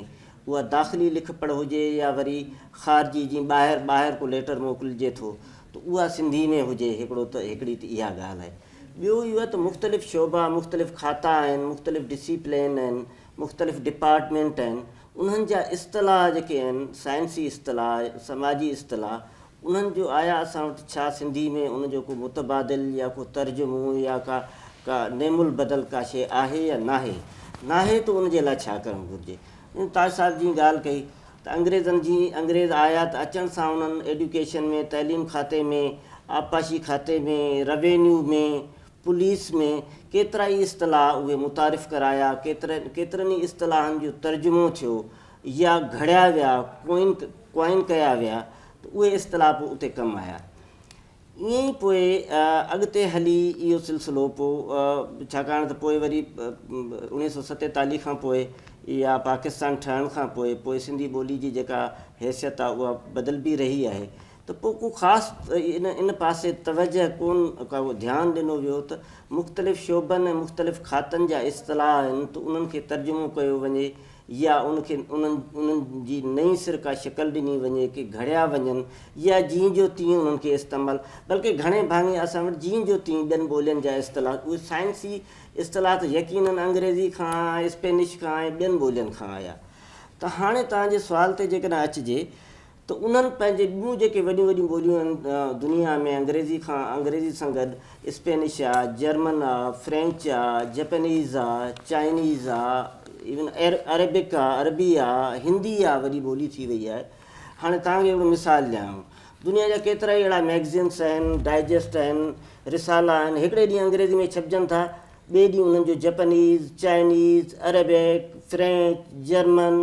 اها داخلي لک پڙهه هجي يا وري خارجي جي ٻاهر ٻاهر ڪو ليٽر موڪلجي ٿو ته اها سنڌي ۾ هجي، هڪڙو ته هڪڙي ته اها ڳالهه آهي. ٻيو اهو آهي ته مختلف شعبا، مختلف کاتا آهن، مختلف ڊسيپلين آهن، مختلف ڊپارٽمينٽ آهن، انهن جا اصطلاح جيڪي آهن، سائنسي اصطلاح، سماجي اصطلاح، انهن جو آيا اسان وٽ ڇا سنڌي ۾ ان جو ڪو متبادل يا ڪو ترجمو يا ڪا ڪا نعم البدل ڪا شيء آهي يا ناهي؟ ناهي ته ان جي لاء ڇا ڪرڻ گهرجي؟ جيئن تاج صاحب جيئن ڳالهه ڪئي. ته انگريزن جي انگريز آيا ته اچڻ سان انهن ايڊيوڪيشن ۾ تعليم کاتي ۾ آبپاشي کاتي ۾ روينيو ۾ پوليس ۾ ڪيترا ئي اصطلاح اهي متعارف ڪرايا ڪيترن ئي اصطلاحن جو ترجمو ٿيو يا گهڙيا ويا ڪوئن ڪيا ويا ته اهي اصطلاح به اتي ڪم آيا ائين ئي پوء اڳتي هلي اهو سلسلو پوء ڇاڪاڻ ته پوء وري اوڻيهه سؤ ستيتاليهه کان پوء يا پاڪستان ٺهڻ کان پوء پوء سنڌي ٻولي جي جيڪا حيثيت آهي اها بدلبي رهي آهي ته پوء ڪو خاص ان ان پاسي توجهه ڪون ڪا ڌيان ڏنو ويو ته مختلف شعبن ۽ مختلف کاتن جا اصطلاح آهن ته انهن کي ترجمو ڪيو وڃي يا ان کي انهن جي نئين سر ڪا شڪل ڏني وڃي ڪي گهڙيا وڃن يا جيئن جو تيئن انهن کي استعمال بلڪه گهڻي ڀاڱي اسان وٽ جيئن جو تيئن ٻين ٻولين جا اصطلاحات اهي سائنسي اصطلاحات يقينن انگريزي کان اسپينش کان ۽ ٻين ٻولين کان آيا ته هاڻي توهان جي سوال تي جيڪڏهن اچجي ته انهن پنهنجي ٻيون جيڪي وڏيون وڏيون ٻوليون آهن دنيا ۾ انگريزي کان انگريزي سان گڏ اسپينش آ، جرمن آ، فرينچ آ، جپينيز آ، چائنيز آ، ايون عربڪ آ، عربي آ، هندي آ وڏي ٻولي ٿي وئي آهي. هاڻي توهان کي هڪڙو مثال ڏيان. دنيا جا ڪيترائي اهڙا مئگزينس آهن، ڊائجسٽ آهن، رسالا آهن، هڪڙي ڏينهن انگريزي ۾ ڇپجن ٿا، ٻئي ڏينهن انهن جو Japanese, Chinese, Arabic, French, German,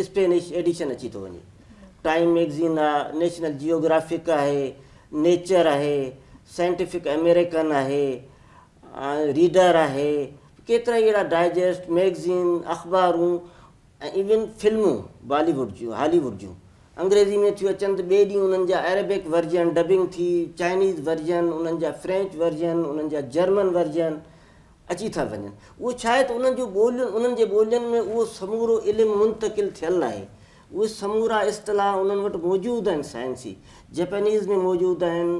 Spanish edition اچي ٿو وڃي. ٽائيم ميگزين آهي، نيشنل جيوگرافڪ آهي، نيچر آهي، سائنٽيفڪ امريڪن آهي، ريڊر آهي، ڪيترائي اهڙا ڊائجسٽ، ميگزين، اخبارون ۽ ايون فلمون بالي ووڊ جون، هالي ووڊ جون انگريزي ۾ ٿيون اچن ته ٻئي ڏينهن انهن جا عربڪ ورجن ڊبنگ ٿي، چائنيز ورجن، انهن جا فرينچ ورجن، انهن جا جرمن ورجن اچي ٿا وڃن. اهو ڇاهي ته انهن جون ٻوليون، انهن جي ٻولين ۾ اهو سمورو علم منتقل ٿيل آهي. اهي سمورا اصطلاح انهن وٽ موجود آهن سائنسي جپينيز ۾ موجود آهن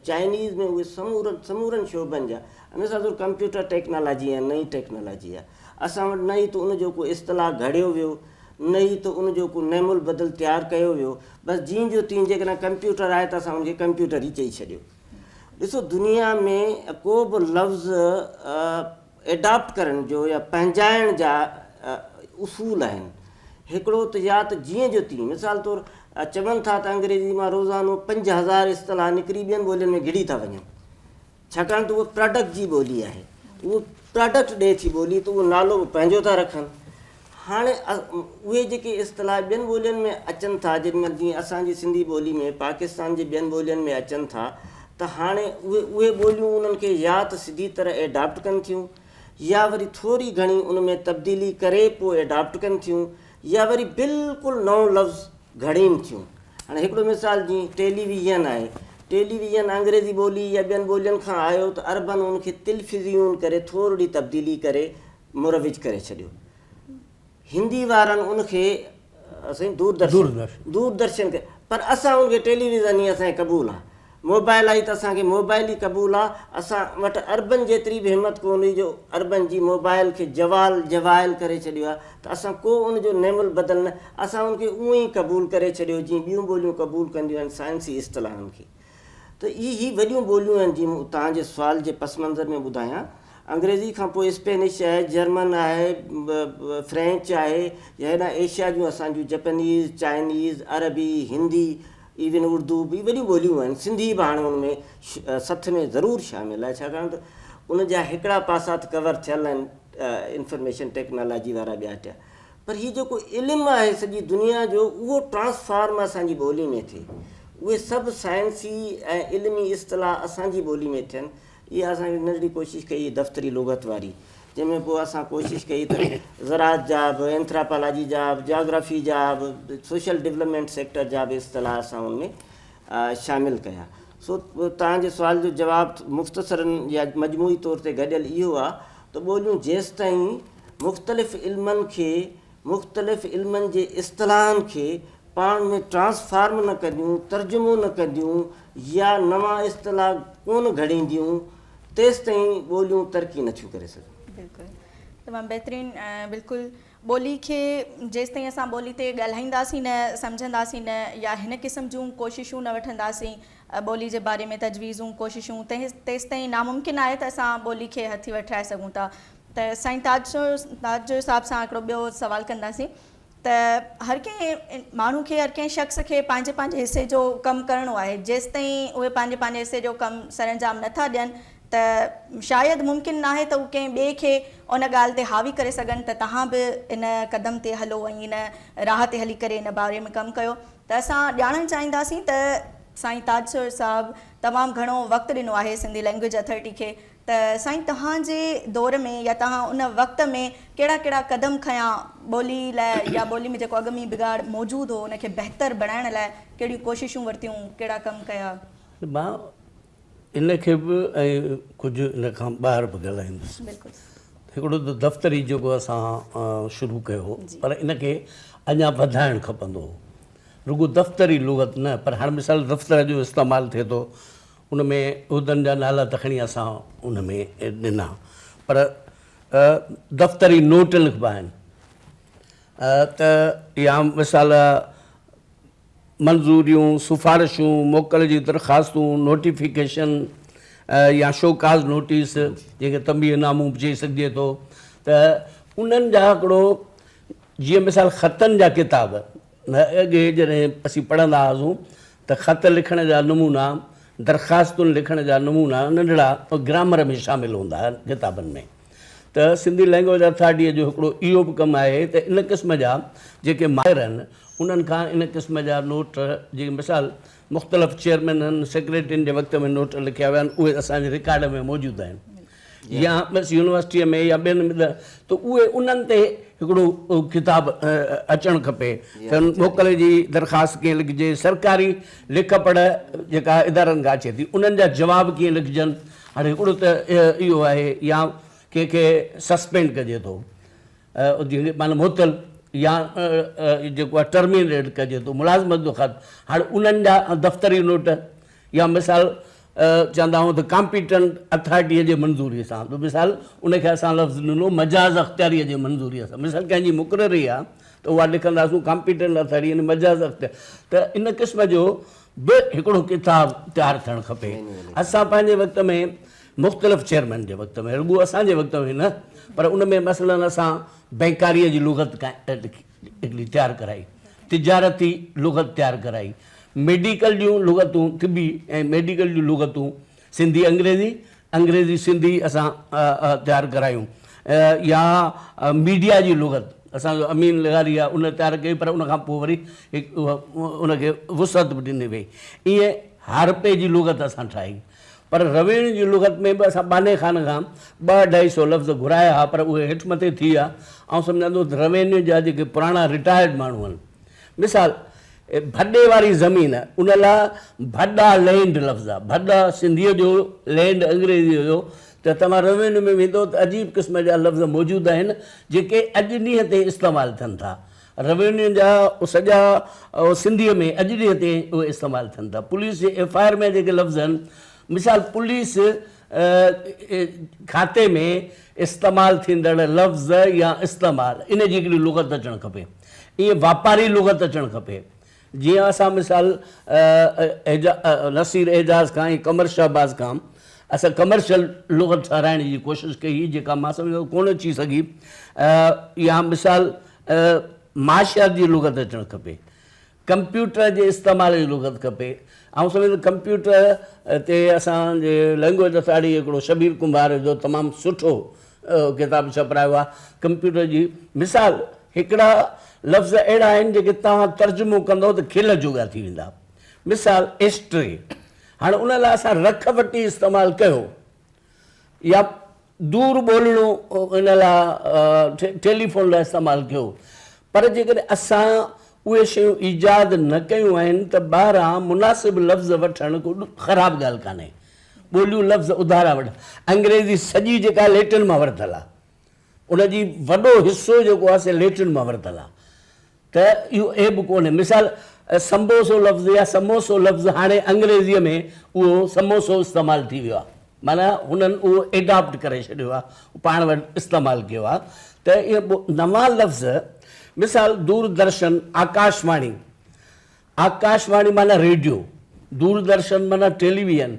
چائنيز ۾ اهي سمورن سمورن شعبن جا ان سان سور ڪمپيوٽر ٽيڪنالاجي ۽ نئين ٽيڪنالاجي آهي اسان وٽ نه ئي ته ان جو ڪو اصطلاح گهڙيو ويو نه ئي ته ان جو ڪو نعم البدل تيار ڪيو ويو بس جيئن جو تيئن جيڪڏهن ڪمپيوٽر آهي ته اسان ان کي ڪمپيوٽر ئي چئي ڇڏيو ڏسو دنيا ۾ ڪو به لفظ ايڊاپٽ ڪرڻ جو يا پنهنجائڻ جا اصول آهن. هڪڙو ته يا ته جيئن جو تيئن. مثال طور چون ٿا ته انگريزي مان روزانو پنج هزار اصطلاح نڪري ٻين ٻولين ۾ گهڙي ٿا وڃن. ڇاڪاڻ ته اها پراڊڪٽ جي ٻولي آهي. اهو پراڊڪٽ ڏئي ٿي ٻولي ته اهو نالو به پنهنجو ٿا رکن. هاڻي اهي جيڪي اصطلاح ٻين ٻولين ۾ اچن ٿا جيڏي مهل جيئن اسان جي سنڌي ٻولي ۾ پاڪستان جي ٻين ٻولين ۾ اچن ٿا ته هاڻي اهي اهي ٻوليون انهن کي يا ته سڌي طرح ايڊاپٽ ڪن ٿيون يا وري ٿوري گهڻي ان ۾ تبديلي ڪري پوء ايڊاپٽ ڪن ٿيون يا وري بلڪل نئون لفظ گهڙين ٿيون هاڻي هڪڙو مثال جيئن ٽيلي ويزن آهي ٽيلي ويزن انگريزي ٻولي يا ٻين ٻولين کان آيو ته عربن ان کي تلفزيون ڪري ٿورڙي تبديلي ڪري مروج ڪري ڇڏيو. هندي وارن ان کي سائين دوردرشن دوردرشن ڪيو پر اسان ان کي ٽيليويزن ئي اسان کي قبول آ. موبائل آئي ته اسان کي موبائل ئي قبول آ. اسان وٽ عربن جيتري به همت ڪو نه هئي جو عربن جي موبائل کي جوال جوائل ڪري ڇڏيو آ ته اسان ڪو ان جو نعم البدل نه اسان ان کي اونئي قبول ڪري ڇڏيو جيئن ٻيون ٻوليون قبول ڪنديون آهن سائنسي اصطلاحن کي ته اهي هي وڏيون ٻوليون آهن جيئن مون توهان جي سوال جي پس منظر ۾ ٻڌايان انگريزي کان پوء اسپينش آهي، جرمن آهي، فرينچ آهي يا هيڏانهن ايشيا جون اسان جون جپنيز، چائنيز، عربي، هندي ايون اردو به وڏيون ٻوليون آهن، سنڌي به هاڻي ان ۾ سٿ ۾ ضرور شامل آهي ڇاڪاڻ ته ان جا هڪڙا پاسا ته ڪور ٿيل آهن انفرميشن ٽيڪنالاجي وارا ٻيا ٽيا پر هي جيڪو علم آهي سڄي دنيا جو اهو ٽرانسفارم اسان جي ٻولي ۾ ٿئي اهي سڀ سائنسي ۽ علمي اصطلاح اسان جي ٻولي ۾ ٿين اها اسان هڪ ننڍڙي ڪوشش ڪئي دفتري لغت واري جنهن ۾ پوء اسان ڪوشش ڪئي ته زراعت جا به اينٿراپالاجي جا به جاگرافي جا به سوشل ڊولپمينٽ سيڪٽر جا به اصطلاح اسان ان ۾ شامل ڪيا سو توهان جي سوال جو جواب مختصرا يا مجموعي طور تي گڏيل اهو آهي ته ٻوليون جيستائين مختلف علمن کي مختلف علمن جي اصطلاحن کي پاڻ ۾ ٽرانسفارم نه ڪنديون، ترجمو نه ڪنديون يا نوان اصطلاح ڪونه گهڙينديون تيستائين ٻوليون ترقي نه ٿيون ڪري سگهن. بلڪل تمام بهترين بلڪل ٻولي کي جيستائين اسان ٻولي تي ڳالهائينداسين نه سمجهنداسين نه يا هن قسم جون ڪوششون نه وٺنداسين ٻولي جي باري ۾ تجويزون ڪوششون تيستائين ناممڪن آهي ته اسان ٻولي کي هٿي وٺرائي سگهون ٿا ته سائين تاج تاج جو صاحب سان هڪڙو ٻيو سوال ڪنداسين ته هر ڪنهن ماڻهو کي هر ڪنهن شخص کي پنهنجي پنهنجي حصي جو ڪم ڪرڻو آهي جيستائين اهي پنهنجي پنهنجي حصي جو ڪم سرانجام نه ٿا ڏين ته شايد ممڪن ناهي ته هو ڪنهن ٻئي کي ان ڳالهه تي حاوي ڪري سگهن ته توهان به ان قدم تي هلو ۽ ان راهه تي هلي ڪري ان باري ۾ ڪم ڪيو ته اسان ڄاڻڻ چاهينداسين ته سائين تاج صاحب تمام گهڻو وقت ڏنو آهي سنڌي لئنگويج اٿارٽي کي ته سائين توهان جي دور ۾ يا توهان ان وقت ۾ ڪهڙا ڪهڙا قدم کنيا ٻولي لاء يا ٻولي ۾ جيڪو اڳ ۾ ئي بگاڙ موجود هو ان کي بهتر بڻائڻ لاء ڪهڙيون ڪوششون ورتيون ڪهڙا ڪم ڪيا. مان ان کي به ۽ ڪجهه ان کان ٻاهر به ڳالهائيندس. بلڪل. هڪڙو ته دفتري جيڪو اسان شروع ڪيو هو پر ان کي اڃا وڌائڻ کپندو هو رڳو دفتري لغت نه پر هاڻ مثال دفتر جو استعمال ٿئي ٿو ان ۾ عهدن جا نالا ته کڻي اسان ان ۾ ڏنا پر دفتري نوٽ لکبا آهن ته يا مثال منظوريون، سفارشون، موڪل جي درخواستون، نوٽيفڪيشن يا شوڪاز نوٽيس جنهن کي تنبيهه نامون به چئي سگهجي ٿو ته انهن جا هڪڙو جيئن مثال خطن جا ڪتاب اڳي جڏهن اسين پڙهندا هئاسون ته خط لکڻ جا نمونا، درخواستون لکڻ جا نمونا ننڍڙا گرامر ۾ شامل هوندا هئا ڪتابن ۾ ته سنڌي لئنگويج اٿارٽيء جو هڪڙو اهو به ڪم آهي ته ان قسم جا جيڪي ماهر آهن انهن کان ان قسم جا نوٽ جي مثال مختلف چيئرمينن، سيڪريٽرين جي وقت ۾ نوٽ لکيا ويا آهن اهي اسان جي رڪارڊ ۾ موجود آهن. يا بس يونيورسٽيء ۾ يا ٻين ته اهي انهن تي هڪڙو ڪتاب اچڻ کپي ته موڪل جي درخواست ڪيئن لکجي، سرڪاري لک پڙهه جيڪا ادارن کان اچي ٿي انهن جا جواب ڪيئن لکجن، هاڻي هڪڙو ته اهو آهي يا ڪنهن کي سسپينڊ ڪجي ٿو معنيٰ معطل يا جيڪو آهي ٽرمينيٽ ڪجي ٿو ملازمت جو خط هاڻي انهن جا دفتري نوٽ يا مثال چوندا آهيون ته ڪامپيٽنٽ اٿارٽيء جي منظوريء سان، ٻيو مثال ان کي اسان لفظ ڏنو مجاز اختياريء جي منظوريء سان. مثال ڪنهن جي مقرري آهي ته اها لکنداسون ڪامپيٽنٽ اٿارٽي يعني مجاز اختيار ته ان قسم جو به هڪڙو ڪتاب تيار ٿيڻ کپي. اسان پنهنجي وقت ۾ مختلف چيئرمين جي وقت ۾ رڳو اسان جي وقت ۾ نه پر ان ۾ مثلا اسان بئنڪاريء جي لغت قائم ڊگري تيار ڪرائي، تجارتي لغت تيار ڪرائي، ميڊيڪل جون لغتون، طبي ۽ ميڊيڪل جون لغتون سنڌي انگريزي، انگريزي سنڌي اسان تيار ڪرايون يا ميڊيا جي لغت اسان جو امين لغاري آهي ان تيار ڪئي پر ان کان پوء وري ان کي وسعت به ڏني وئي ائين هارپي جي لغت اسان ٺاهي. پر رويڻ جي لغت ۾ به اسان ٻانهي خان کان ٻه اڍائي سو لفظ گهرايا ها پر اهي هيٺ مٿي ٿي ويا. آئون سمجهان ٿو ته رويڻ جا جيڪي پراڻا رٽائرڊ ماڻهو آهن مثال ڀڏي واري زمين ان لا ڀڏا لينڊ لفظ آهي ڀڏا سنڌيء جو لينڊ انگريزيء جو ته توهان رويڻ ۾ ويندو ته عجيب قسم جا لفظ موجود آهن جيڪي اڄ ڏينهن تائين استعمال ٿين ٿا روينيو جا سڄا سنڌيء ۾ اڄ ڏينهن تائين اهي استعمال ٿين ٿا. پوليس جي ايف آء آر ۾ جيڪي لفظ آهن، مثال پوليس کاتي ۾ استعمال ٿيندڙ لفظ يا استعمال، ان جي هڪڙي لغت اچڻ کپي. ائين واپاري لغت اچڻ کپي. جيئن اسان مثال نصير اعجاز کان ۽ قمر شهباز کان اسان ڪمرشل لغت ٺهرائڻ جي ڪوشش ڪئي هئي جيڪا مان سمجهان ٿو ڪونه اچي سگهي يا مثال معاشيات جي لغت اچڻ کپي ڪمپيوٽر جي استعمال جي لغت کپي آئون سمجهان ٿو ڪمپيوٽر تي اسان جي لينگويج اٿارٽي هڪڙو شبير ڪنڀار جو تمام سٺو اهو ڪتاب ڇپرايو آهي. ڪمپيوٽر جي مثال هڪڙا لفظ اهڙا آهن جيڪي توهان ترجمو ڪندئو ته کل جوڳا ٿي ويندا. مثال ايسٽري هاڻ ان لاء اسان رک وٽي استعمال ڪيو يا دور ٻولڻو ان لاء ٽيليفون لاء استعمال ڪيو پر جيڪڏهن اسان اهي شيون ايجاد نه ڪيون آهن ته ٻاهران مناسب لفظ وٺڻ ڪو خراب ڳالهه ڪانهي. ٻوليون لفظ اڌارا وڏا انگريزي سڄي جيڪا ليٽن مان ورتل آ ان جي وڏو حصو جيڪو آ سي ليٽن مان ورتل آ ته اهو عيب ڪونهي مثال سمبوسو لفظ يا سموسو لفظ هاڻي انگريزي ۾ اهو سموسو استعمال ٿي ويو آ معنيٰ هنن اهو ايڊاپٽ ڪري ڇڏيو آ پاڻ وٽ استعمال ڪيو آ ته اهي نوان لفظ مثال دور درشن آڪاش واڻي آڪاش واڻي معنيٰ ريڊيو، دوردرشن معنيٰ ٽيلي ويئن،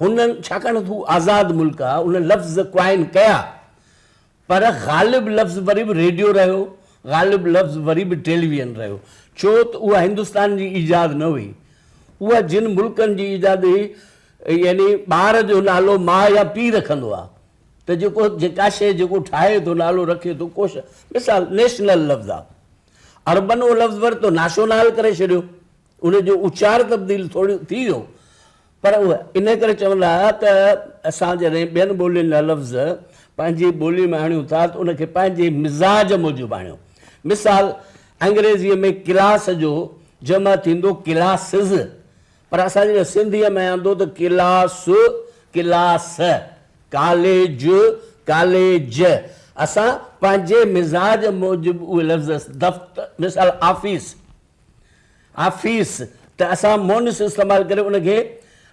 هنن ڇاڪاڻ ته هو آزاد ملڪ آ، ان لفظ قائم ڪيا، پر غالب لفظ وري به ريڊيو رهيو، غالب لفظ وري به ٽيلي ويئن رهيو، ڇو ته اها هندستان جي ايجاد نه هئي، اها جن ملڪن جي ايجاد هئي، يعني ٻار جو نالو ماء يا پيء رکندو آ، ته جيڪو جيڪا شيء جيڪو ٺاهي ٿو نالو رکي ٿو، ڪو شيء مثال نيشنل لفظ آ، عربن اهو لفظ ورتو، ناشونال ڪري ڇڏيو، ان جو اچار تبديل ٿوري ٿي ويو، پر اهي انهي ڪري چون ٿا ته اسان جڏهن ٻين ٻولين جا لفظ پنهنجي ٻولي ۾ آڻيون ٿا ته ان کي پنهنجي مزاج موجب آڻيو. مثال، انگريزيء ۾ ڪلاس جو جمع ٿيندو ڪلاسز، پر اسان جيئن سنڌيء ۾ آندو ته ڪلاس، ڪلاس، ڪاليج، ڪاليج، اسان پنهنجي مزاج موجب اهي لفظ دفت مثال آفيس، آفيس، ته اسان مونث استعمال ڪري ان کي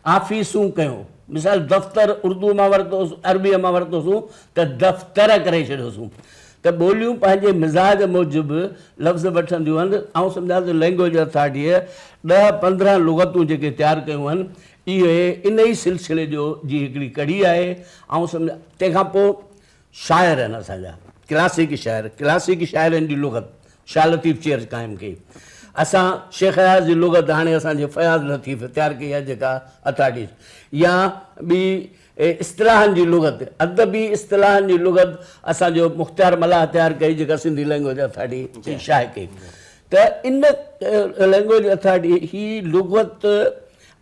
آفيسون ڪيون. مثال دفتر اردوء مان ورتوس، عربيء مان ورتوسون ته دفتر ڪري ڇڏيوسون. ته ٻوليون پنهنجي مزاج موجب لفظ وٺنديون هن، آئون سمجهان ٿو لئنگويج اٿارٽيء ڏهه پندرهن لغتون جيڪي تيار ڪيون هن، اهي انهيء سلسلي جو جي هڪڙي ڪڙي آهي، آئون سمجهان تنهن کان پوء شاعر هن اسان جا ڪلاسيڪي شاعر، ڪلاسيڪي شاعرن جي لغت شاهه لطيف چيئرز قائم ڪئي، اسان شيخ اياز جي لغت هاڻي اسان جي فياض لطيف تيار ڪئي آهي جيڪا اٿارٽيز يا ٻي اهي اصطلاحن جي لغت، ادبي اصطلاحن جي لغت اسان جو مختيار ملاح تيار ڪئي جيڪا سنڌي لئنگويج اٿارٽي شايع ڪئي ته ان لئنگويج اٿارٽي هي لغت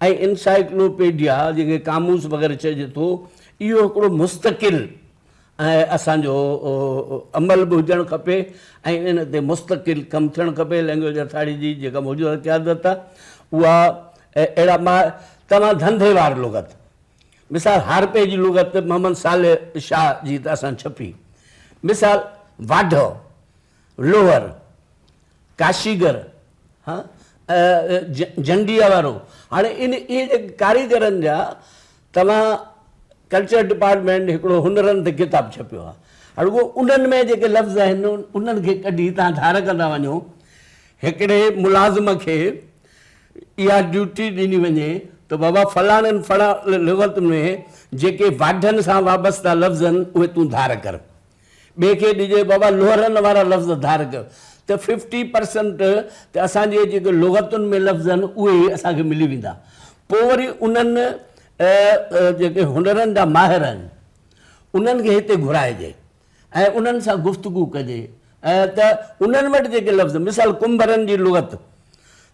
۽ انسائيڪلوپيڊيا جنهن کي قاموس وغيره چئجي ٿو اهو هڪڙو مستقل ۽ اسان جو عمل به هجڻ کپي ۽ ان تي مستقل ڪم ٿيڻ کپي لئنگويج اٿارٽي جي جيڪا موجوده قيادت آهي اها اهڙا مان توهان ڌنڌي وار لغت مثال، هارپي جي لغت محمد صالح شاهه جي طرح سان ڇپي. مثال، واڍو، لوهر، ڪاشيگر، جنڊيء وارو. هاڻي ان اهي جيڪي ڪاريگرن جا توهان ڪلچر ڊپارٽمينٽ هڪڙو هنرن تي ڪتاب ڇپيو آهي. رڳو انهن ۾ جيڪي لفظ آهن انهن کي ڪڍي توهان ڌار ڪندا وڃو. هڪڙي ملازم کي. اها ڊيوٽي ڏني وڃي ته بابا فلاڻن فلاڻ لغت ۾ جيڪي واڍن سان وابسته لفظ آهن اهي تون ڌار ڪر. ٻئي کي ڏجي بابا لوهرن وارا لفظ ڌار ڪر ته ففٽي پرسنٽ ته اسان جي جيڪي لغتن ۾ لفظ آهن اهي ئي اسان کي ملي ويندا. پوء وري انهن جيڪي هنرن جا ماهر آهن انهن کي هتي گهرائجي. ۽ انهن سان گفتگو ڪجي ته انهن وٽ جيڪي لفظ مثال ڪنڀرن جي لغت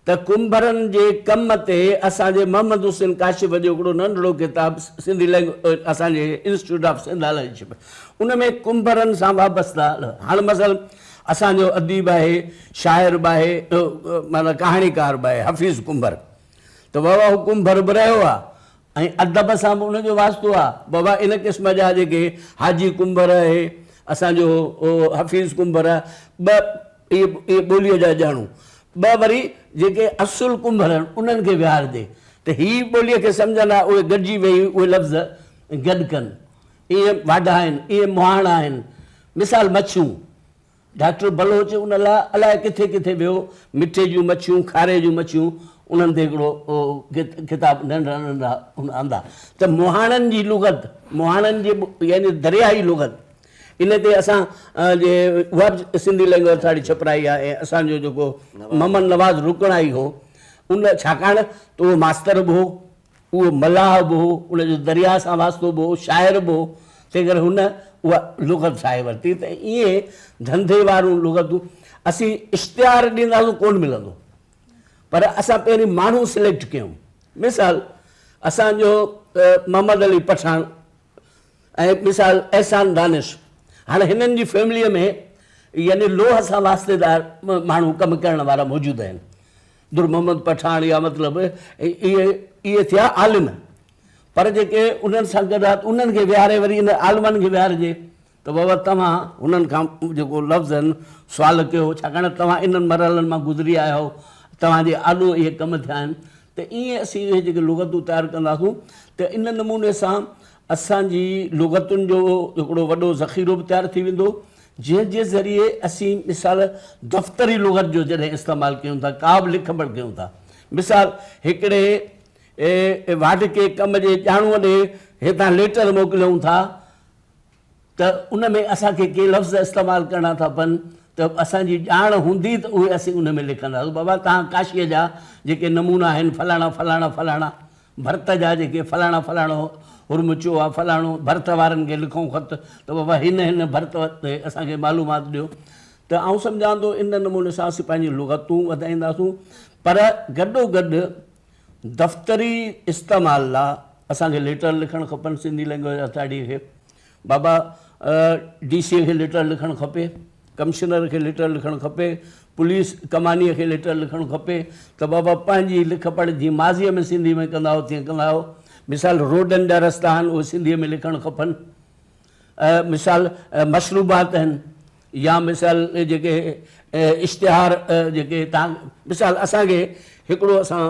ته ڪنڀرن جي ڪم تي اسان جي محمد حسين ڪاشف جو هڪڙو ننڍڙو ڪتاب سنڌي لينگويج اسان جي انسٽيٽيوٽ آف سنڌ هلائي ڇپ ان ۾ ڪنڀرن سان وابسته هاڻ مثلا اسان جو اديب آهي شاعر به آهي معنيٰ ڪهاڻيڪار به آهي حفيظ ڪنڀر ته واهه واهه ڪنڀر به رهيو آهي ۽ ادب سان به ان جو واسطو آ. بابا ان قسم جا جيڪي حاجي ڪنڀر اهي اسان جو حفيظ ڪنڀر ٻه اهي ٻوليء جا ڄاڻو ٻه وري جيڪي اصل ڪنڀر آهن انهن کي ويهارجي ته هي ٻوليء کي سمجهن ها اهي گڏجي ويهي اهي لفظ گڏ ڪن اهي واڍا آهن اهي مهاڻا آهن مثال مڇيون ڊاڪٽر بلوچ ان لاء الائي ڪٿي ڪٿي ويو، مٺي جون مڇيون، کاري جون مڇيون، انهن تي هڪڙو ڪتاب ننڍڙا ننڍڙا هن آندا ته مهاڻن جي لغت، مهاڻن جي يعني درياهي لغت، ان تي اسان جي اها به سنڌي لينگويج اٿارٽي ڇپرائي آهي ۽ اسان جو جيڪو محمد نواز رڪڻائي هو ان ڇاڪاڻ ته اهو ماستر به هو، اهو ملاح به هو، ان جو درياء سان واسطو به هو، شاعر به هو، تنهنڪري هن اها لغت ٺاهي ورتي ته ائين ڌنڌي واريون لغتون اسين اشتهار ڏينداسون ڪونه ملندو پر اسان پهرين ماڻهو سليڪٽ ڪيون مثال اسان جو محمد علي پٺاڻ ۽ مثال احسان دانش هاڻي هنن جي فيمليء ۾ يعني لوهه سان واسطيدار ماڻهو ڪم ڪرڻ وارا موجود آهن در محمد پٺاڻ يا مطلب اهي اهي ٿيا عالم پر جيڪي انهن سان گڏ آهي انهن کي ويهاري وري ان عالمن کي ويهارجي ته بابا توهان انهن کان جيڪو لفظن سوال ڪيو ڇاڪاڻ توهان انهن مرحلن مان گذري آيا آهو توهان جي آڏو اهي ڪم ٿيا آهن ته ائين اسين اهي جيڪي لغتون تيار ڪنداسون ته ان نموني سان اسان جي لغتن جو هڪڙو وڏو ذخيرو به تيار ٿي ويندو جنهن جي ذريعي اسين مثال دفتري لغت جو جڏهن استعمال ڪيون ٿا، ڪا به لک پڙهه ڪيون ٿا. مثال، هڪڙي واڍ کي ڪم جي ڄاڻوء ڏي هتان ليٽر موڪليون ٿا ته ان ۾ اسان کي ڪي لفظ استعمال ڪرڻا ٿا پون ته اسان جي ڄاڻ هوندي ته اهي اسين ان ۾ لکنداسون. بابا توهان ڪاشيء جا جيڪي نمونا آهن فلاڻا فلاڻا فلاڻا ڀرت جا جيڪي فلاڻا فلاڻو حرم چيو آ فلاڻو ڀرت وارن کي لکون خط ته بابا هن هن ڀرت تي اسان کي معلومات ڏيو ته آئون سمجهان ٿو ان نموني سان اسين پنهنجي لغتون وڌائينداسون پر گڏو گڏ دفتري استعمال لا اسان کي ليٽر لکڻ کپن سنڌي لينگويج اٿارٽي کي بابا ڊي سي کي ليٽر لکڻ کپي، ڪمشنر کي ليٽر لکڻ کپي، پوليس ڪمانيء کي ليٽر لکڻ کپي ته بابا پنهنجي لک پڙهه جيئن ماضيء ۾ سنڌيء ۾ ڪندا هئو تيئن ڪندا هئو. مثال روڊن جا رستا آهن اهي سنڌيء ۾ لکڻ کپن. مثال مشروبات آهن. يا مثال جيڪي اشتهار جيڪي تان مثال اسان کي هڪڙو اسان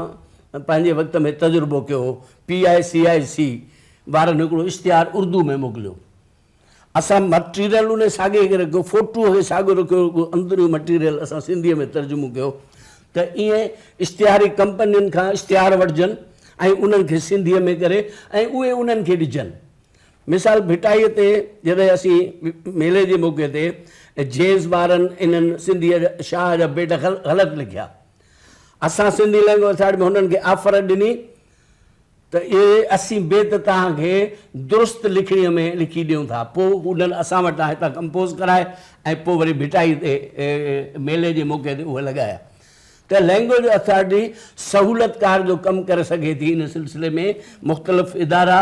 پنهنجي وقت ۾ تجربو ڪيو هو پي آء سي آء سي وارن هڪڙو اشتهار اردو ۾ موڪليو اسان مٽيريل ان ساڳي کي رکيو فوٽو کي ساڳو رکيو رڳو اندرون مٽيريل اسان سنڌي ۾ ترجمو ڪيو ته ائين اشتهاري ڪمپنين کان اشتهار وٺجن ۽ انهن کي سنڌي ۾ ڪري ۽ اهي انهن کي ڏجن مثال ڀٽائيء تي جڏهن اسين ميلي جي موقعي تي جيز وارن انهن سنڌيء شاهه جا بيت غلط لکيا. اسان سنڌي لئنگويج اٿارٽي ۾ هنن کي آفر ڏني ته اهي اسين بيت توهان کي درست لکڻيء ۾ لکي ڏيون ٿا. پوء هنن اسان وٽان هتان ڪمپوز ڪرائي ۽ پوء وري ڀٽائيء تي ميلي جي موقعي تي اهي لڳايا. ته لئنگويج اٿارٽي سهولتڪار جو ڪم ڪري سگهي ٿي ان سلسلي ۾ مختلف ادارا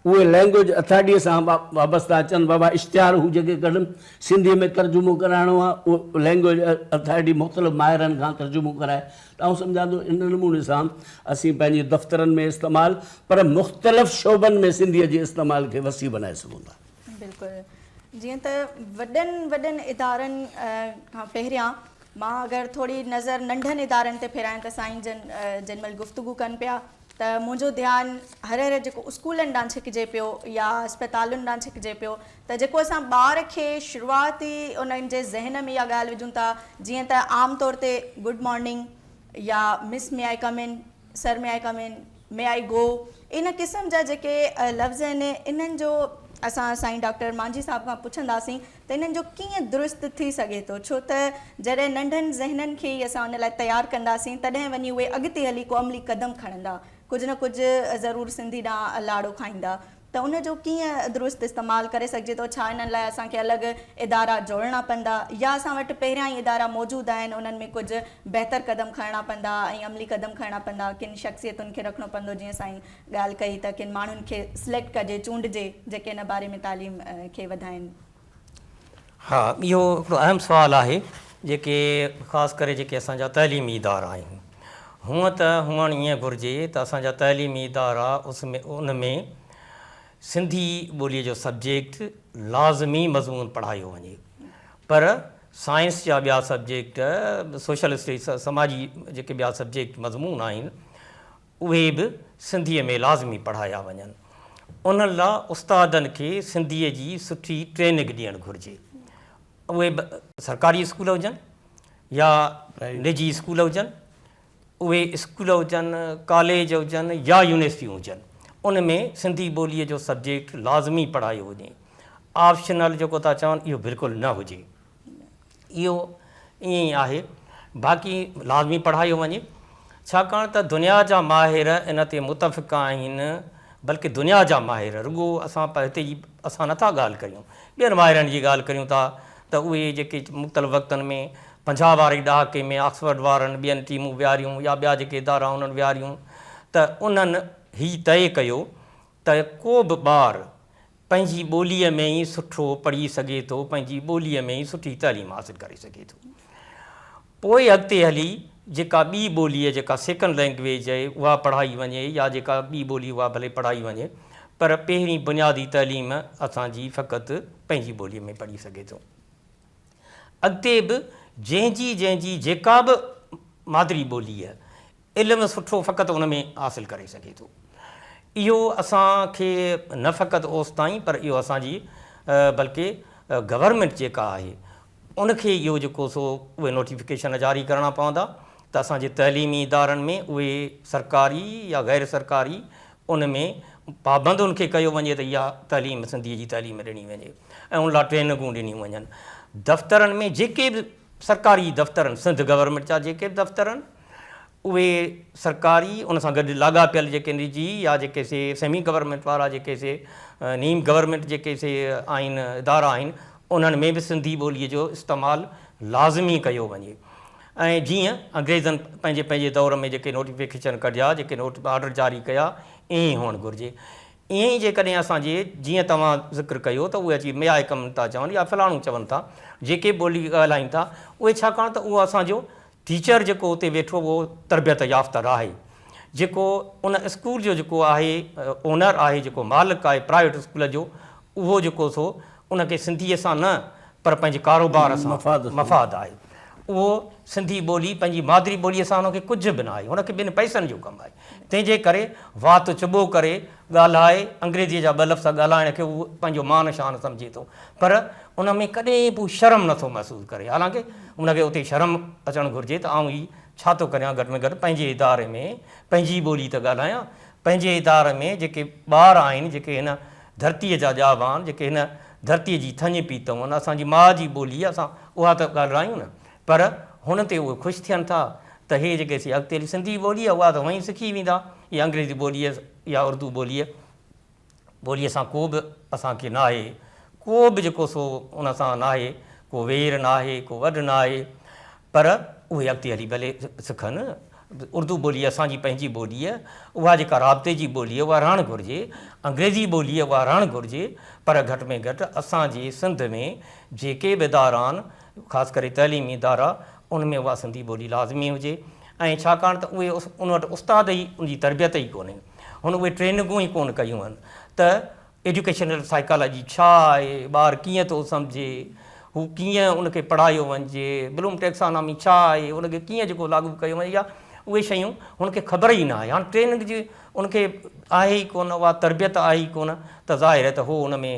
اهي لئنگويج اٿارٽي سان وابسته اچن بابا اشتهار هو جيڪي ڪڍن سنڌي ۾ ترجمو ڪرائڻو آهي اهو لئنگويج اٿارٽي مختلف ماهرن کان ترجمو ڪرائي ته آئون سمجهان ٿو ان نموني سان اسين پنهنجي دفترن ۾ استعمال پر مختلف شعبن ۾ سنڌي جي استعمال کي وسيع بنائي سگهون ٿا. بلڪل جيئن ته وڏن وڏن ادارن کان پهريان مان اگر ٿوري نظر ننڍن ادارن تي ڦيرايان ته سائين جن جن مهل گفتگو ڪن پيا ته منهنجو ڌيان هر هر جيڪو اسڪولن ڏانهن ڇڪجي پيو يا اسپتالن ڏانهن ڇڪجي پيو ته جيڪو اسان ٻار کي شروعات ئي انهن جي ذهن ۾ اها ڳالهه وجهون ٿا جيئن ته عام طور تي گڊ مارننگ يا مس مي آئي ڪم ان سر، مي آء ڪم ان؟ مي آء گو؟ ان قسم جا جيڪي لفظ آهن، انهن جو اسان سائين ڊاڪٽر مانجهي صاحب کان پڇنداسين ته انهن جو ڪيئن درست ٿي سگهي ٿو، ڇو ته جڏهن ننڍن ذهنن کي ئي اسان ان لاء تيار ڪنداسين، تڏهن وڃي اهي اڳتي هلي ڪو عملي قدم کڻندا، ڪجهه نه ڪجهه ضرور سنڌي ڏانهن لاڙو کائيندا. ته ان جو ڪيئن درست استعمال ڪري سگهجي ٿو، ڇا انهن لاء اسان کي الڳ ادارا جوڙڻا پوندا يا اسان وٽ پهريان ئي ادارا موجود آهن، انهن ۾ ڪجهه بهتر قدم کڻڻا پوندا ۽ عملي قدم کڻڻا پوندا، ڪن شخصيتن کي رکڻو پوندو جيئن سائين ڳالهه ڪئي ته ڪن ماڻهن کي سليڪٽ ڪجي، چونڊجي جيڪي ان باري ۾ تعليم کي وڌائين. ها اهو هڪڙو اهم سوال آهي جيڪي خاص ڪري جيڪي اسان جا تعليمي ادارا آهن هونء ته هئڻ ائين گهرجي ته اسان جا تعليمي ادارا اس ۾ ان ۾ سنڌي ٻولي جو سبجيڪٽ لازمي مضمون پڙهايو وڃي پر سائنس جا ٻيا سبجيڪٽ سوشل اسٽيز سماجي جيڪي ٻيا سبجيڪٽ مضمون آهن اهي به سنڌيء ۾ لازمي پڙهايا وڃن. انهن لا استادن کي سنڌيء جي سٺي ٽرينگ ڏيڻ گهرجي. اهي به سرڪاري اسڪول هجن يا نجي اسڪول هجن. اهي اسڪول هجن، ڪاليج هجن يا يونيورسٽيون هجن. ان ۾ سنڌي ٻوليء جو سبجيڪٽ لازمي پڙهايو وڃي. آپشنل جيڪو ٿا چون اهو بلڪل نه هجي. اهو ائين ئي آهي، باقي لازمي پڙهايو وڃي، ڇاڪاڻ ته دنيا جا ماهر ان تي متفق آهن، بلڪ دنيا جا ماهر، رڳو اسان هتي جي اسان نٿا ڳالهه ڪريون، ٻين ماهرن جي ڳالهه ڪريون ٿا ته اهي جيڪي مختلف وقتن ۾ پنجاهه واري ڏهاڪي ۾ آڪسفرڊ وارن ٻين ٽيمون ويهاريون يا ٻيا جيڪي ادارا انهن ويهاريون ته انهن هي طئي ڪيو ته ڪو به ٻار پنهنجي ٻوليء ۾ ئي سٺو پڙهي سگهي ٿو، پنهنجي ٻوليء ۾ ئي سٺي تعليم حاصل ڪري سگهي ٿو. پوء اڳتي هلي جيڪا ٻي ٻولي جيڪا سيڪنڊ لينگويج آهي اها پڙهائي وڃي يا جيڪا ٻي ٻولي اها ڀلي پڙهائي وڃي پر پهرين بنيادي تعليم اسان جي فقط پنهنجي ٻوليء ۾ پڙهي سگهي ٿو. اڳتي به جنهن جي جنهن جي جيڪا به مادري ٻولي علم سٺو فقط ان ۾ حاصل ڪري سگهي ٿو. اهو اسان کي نه فقط اوستائين پر اهو اسان جي بلڪه گورنمينٽ جيڪا آهي ان کي اهو جيڪو سو اهي نوٽيفڪيشن جاري ڪرڻا پوندا ته اسان جي تعليمي ادارن ۾ اهي سرڪاري يا غير سرڪاري ان ۾ پابند ان کي ڪيو وڃي ته اها تعليم سنڌي جي تعليم ڏني وڃي ۽ ان لاء ٽريننگون ڏنيون وڃن دفترن ۾ جيڪي به سرڪاري دفترن سنڌ گورنمينٽ جا جيڪي به دفترن اهي سرڪاري ان سان گڏ لاڳاپيل جيڪي نجي يا جيڪي سي سيمي گورنمينٽ وارا جيڪي سي نيم گورنمينٽ جيڪي سي آهن ادارا آهن انهن ۾ به سنڌي ٻولي جو استعمال لازمي ڪيو وڃي ۽ جيئن انگريزن پنهنجي پنهنجي دور ۾ جيڪي نوٽيفڪيشن ڪڍيا جيڪي نوٽ آرڊر جاري ڪيا ائين ئي هئڻ گهرجي ائين ئي جيڪڏهن اسان جي جيئن توهان ذڪر ڪيو ته اهي اچي ميائي ڪم ٿا چون يا فلاڻو چون ٿا جيڪي ٻولي ڳالهائين ٿا اهي ڇاڪاڻ ته اهو اسان جو ٽيچر جيڪو اتي ويٺو هو تربيت يافته راهي جيڪو ان اسڪول جو جيڪو آهي اونر آهي جيڪو مالڪ آهي پرائيويٽ اسڪول جو اهو جيڪو سو ان کي سنڌيء سان نه پر پنهنجي ڪاروبار سان مفاد آهي اهو سنڌي ٻولي پنهنجي مادري ٻوليء سان ان کي ڪجهه به ناهي ان کي ٻن پئسن جو ڪم آهي. تنهن جي ڪري وات چٻو ڪري ڳالهائي، انگريزيء جا ٻه لفظ ڳالهائڻ کي هو پنهنجو مان شان سمجهي ٿو، پر ان ۾ ڪڏهن به شرم نه ٿو محسوس ڪري، حالانڪه ان کي اتي شرم اچڻ گهرجي ته آئون هي ڇا ٿو ڪريان، گهٽ ۾ گهٽ پنهنجي اداري ۾ پنهنجي ٻولي ته ڳالهايان، پنهنجي اداري ۾ جيڪي ٻار آهن، جيڪي هن ڌرتيء جا ڄاڀان، جيڪي هن ڌرتيء جي ٿڃ پي تون، اسان جي ماء جي ٻولي اسان اها ته ڳالهرايون نه، پر هن تي اهي خوش ٿين ٿا ته هي جيڪي سي اڳتي هلي سنڌي ٻولي اها ته هونئن ئي سکي ويندا هي انگريزي ٻوليء يا اردو ٻوليء ٻوليء سان ڪو به اسان کي ناهي ڪو به جيڪو سو ان سان ناهي ڪو وير ناهي ڪو وڏ ناهي پر اهي اڳتي هلي ڀلي سکن اردو ٻولي اسان جي پنهنجي ٻولي اها جيڪا رابطي جي ٻولي اها رهڻ گهرجي انگريزي ٻولي اها رهڻ گهرجي پر گهٽ ۾ گهٽ اسان جي سنڌ ۾ جيڪي به ادارا آهن خاص ڪري تعليمي ادارا ان ۾ اها سنڌي ٻولي لازمي هجي ۽ ڇاڪاڻ ته اهي ان وٽ استاد ئي ان جي تربيت ئي ڪونهي هن اهي ٽريننگون ئي ڪونه ڪيون آهن ته ايڊيوڪيشنل سائيڪالاجي ڇا آهي ٻار ڪيئن ٿو سمجهي هو ڪيئن ان کي پڙهايو وڃجي بلوم ٽيڪسانامي ڇا آهي ان کي ڪيئن جيڪو لاڳو ڪيو وڃي يا اهي شيون هن کي خبر ئي نه آهي هاڻ ٽريننگ جي ان کي آهي ئي ڪونه اها تربيت آهي ئي ڪونه ته ظاهر آهي ته هو ان ۾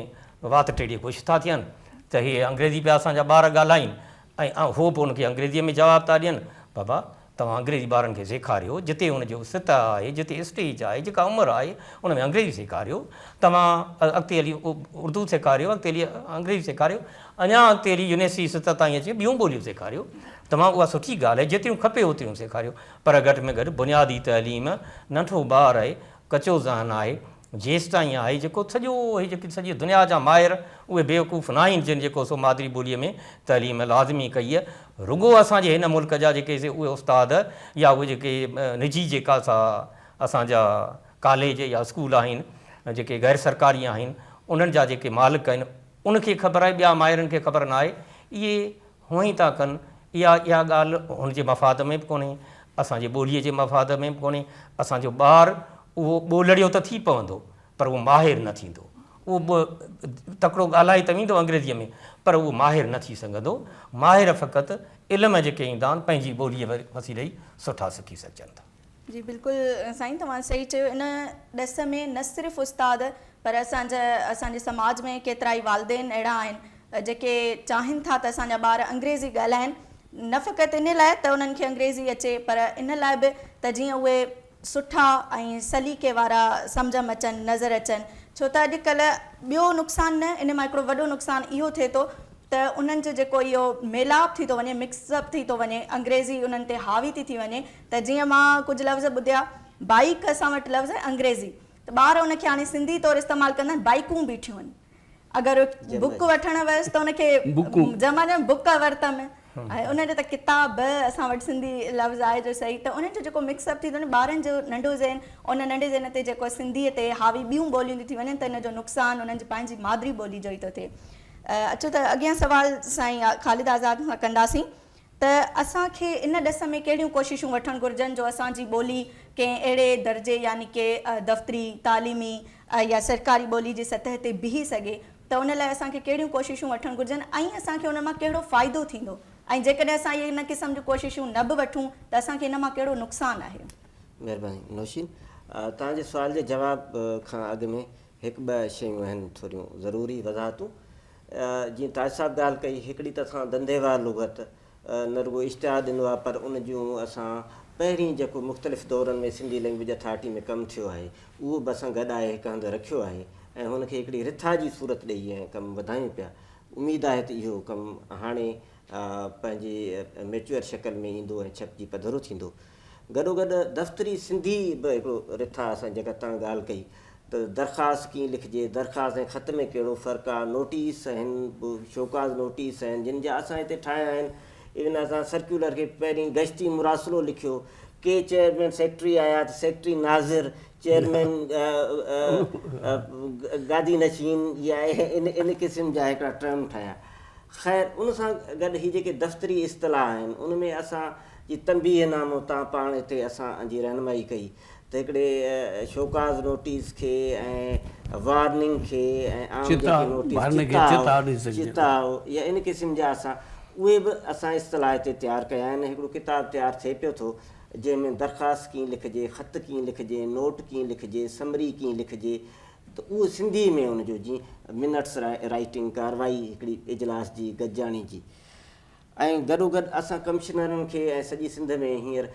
وات ٽيڙي خوش ٿا ٿين ته هي انگريزي پيا اسان جا ٻار ڳالهائين ۽ هو به ان کي انگريزيء ۾ جواب ٿا ڏين. بابا، توهان انگريزي ٻارن کي سيکاريو، جتي ان جو سطح آهي، جتي اسٽيج آهي، جيڪا عمر آهي، ان ۾ انگريزي سيکاريو. توهان اڳتي هلي اردو سيکاريو، اڳتي هلي انگريزي سيکاريو، اڃا اڳتي هلي يونيورسٽي سطح تائين اچي ٻيون ٻوليون سيکاريو. توهان اها سٺي ڳالهه آهي، جيتريون کپي اوتريون سيکاريو، پر گهٽ ۾ گهٽ بنيادي تعليم، ننڍو ٻار آهي، ڪچو ذهن آهي، جيستائين آهي جيڪو سڄو هي جيڪي سڄي دنيا جا ماهر اهي بيوقوف ناهن جن جيڪو سو مادري ٻوليء ۾ تعليم لازمي ڪئي رڳو اسان جي هن ملڪ جا جيڪي سي اهي استاد يا اهي جيڪي نجي جيڪا سا اسان جا ڪاليج يا اسڪول آهن جيڪي غير سرڪاري آهن انهن جا جيڪي مالڪ آهن ان کي خبر آهي ٻيا ماهرن کي خبر ناهي اهي هونئن ٿا ڪن. اها اها ڳالهه هن جي مفاد ۾ به ڪونهي، اسان جي ٻوليء جي مفاد ۾ به ڪونهي. اسان جو ٻار اهو ٻولڙيو ته ٿي پوندو، پر اهو ماهر نه ٿيندو. اهو به تڪڙو ڳالهائي ته ويندو انگريزيء ۾، پر اهو ماهر نه ٿي سگهندو. ماهر فقط علم جيڪي ايندان، پنهنجي ٻوليء وسيلي ئي سٺا سکي سگهجن ٿا. جي بلڪل سائين توهان صحيح چيو ان ڏس ۾ نه صرف استاد پر اسان جا اسان جي سماج ۾ ڪيترائي والدين اهڙا آهن جيڪي چاهين ٿا ته اسان جا ٻار انگريزي ڳالهائين نه فقط ان لاء ته انهن کي انگريزي اچي پر ان لاء به ته جيئن اهي سٺا ۽ سليقي وارا سمجهه م اچن نظر اچن ڇو ته اڄ ڪلهه ٻيو نقصان نه ان مان هڪڙو وڏو نقصان اهو ٿئي ٿو ته انهن جو جيڪو اهو ميلاپ ٿي ٿو وڃي مڪس اپ ٿي ٿو وڃي انگريزي انهن تي حاوي ٿي ٿي وڃي ته جيئن مان ڪجهه لفظ ٻڌيا، بائيڪ اسان وٽ لفظ آهي انگريزي ته ٻار ان کي هاڻي سنڌي طور استعمال ڪندا آهن بائيڪون بيٺيون آهن. اگر بوڪ وٺڻ ويس ته ان کي جمع جمع بوڪ ورتم ۽ ان جو ته ڪتاب به اسان وٽ سنڌي لفظ آهي جو صحيح ته انهن جو جيڪو مڪس اپ ٿي ٿو نه ٻارن جو ننڍو ذهن ان ننڍي ذهن تي جيڪو سنڌي تي حاوي ٻيون ٻوليون ٿيون ٿي وڃن ته ان جو نقصان انهن جي پنهنجي مادري ٻولي جو ئي ٿو ٿئي. اچو ته اڳين سوال سائين خالد آزاد کان ڪنداسين. ته اسان کي ان ڏس ۾ ڪهڙيون ڪوششون وٺڻ گهرجن جو اسان جي ٻولي ڪنهن اهڙي درجي يعني ڪي دفتري، تعليمي يا سرڪاري ٻولي جي سطح تي بيهي سگهي ته ان لاء اسان کي ڪهڙيون ڪوششون وٺڻ گهرجن ۽ اسان کي ان مان ڪهڙو فائدو ٿيندو ۽ جيڪڏهن اسان اهي ان قسم جون ڪوششون نه به وٺون ته اسان کي ان مان ڪهڙو نقصان آهي. مهرباني نوشين. توهان جي سوال جي جواب کان اڳ ۾ هڪ ٻه شيون اهن ٿوريون ضروري وضاحتون. جيئن تاج صاحب ڳالهه ڪئي، هڪڙي ته اسان ڌنڌي وار لغت نه رڳو اشتهار ڏنو آهي پر ان جون اسان پهرين جيڪو مختلف دورن ۾ سنڌي لئنگويج اٿارٽي ۾ ڪم ٿيو آهي اهو به اسان گڏ آهي هڪ هنڌ رکيو آهي ۽ هن کي هڪڙي رٿا جي صورت ڏئي ۽ ڪم وڌايون پيا. اميد آهي ته اهو ڪم هاڻي پنهنجي ميچوئر شڪل ۾ ايندو ۽ ڇپجي پڌرو ٿيندو. گڏوگڏ دفتري سنڌي به هڪڙو رٿا اسان جيڪا تان ڳالهه ڪئي ته درخواست ڪيئن لکجي، درخواست ۽ خط ۾ ڪهڙو فرق آ، نوٽيس هن به شوڪاز نوٽيس آهن جن جا اسان هتي ٺاهيا آهن، ايون اسان سرڪيولر کي پهرين گشتي مراسلو لکيو، ڪي چيئرمين سيڪريٽري آيا ته سيڪريٽري ناظر، چيئرمين گادي نشين يا ان قسم جا هڪڙا ٽرم ٺاهيا. خير ان سان گڏ هي جيڪي دفتري اصطلاح آهن ان ۾ اسان جي تنبيهه نامو تان پاڻ اتي اسان جي رهنمائي ڪئي ته هڪڙي شوڪاز نوٽيس کي ۽ وارننگ کي ۽ عام جيڪي نوٽيس چتاء چتاء يا ان قسم جا اسان اهي به اسان اصطلاح تي تيار ڪيا آهن ۽ هڪڙو ڪتاب تيار ٿئي پيو ٿو جنهن ۾ درخواست ڪيئن لکجي خط ڪيئن لکجي نوٽ ڪيئن لکجي سمري ڪيئن لکجي ته اهو سنڌي ۾ ان جو جي منٽس رائيٽنگ ڪارروائي هڪڙي اجلاس جي گڏجاڻي جي ۽ گڏوگڏ اسان ڪمشنرن کي ۽ سڄي سنڌ ۾ هينئر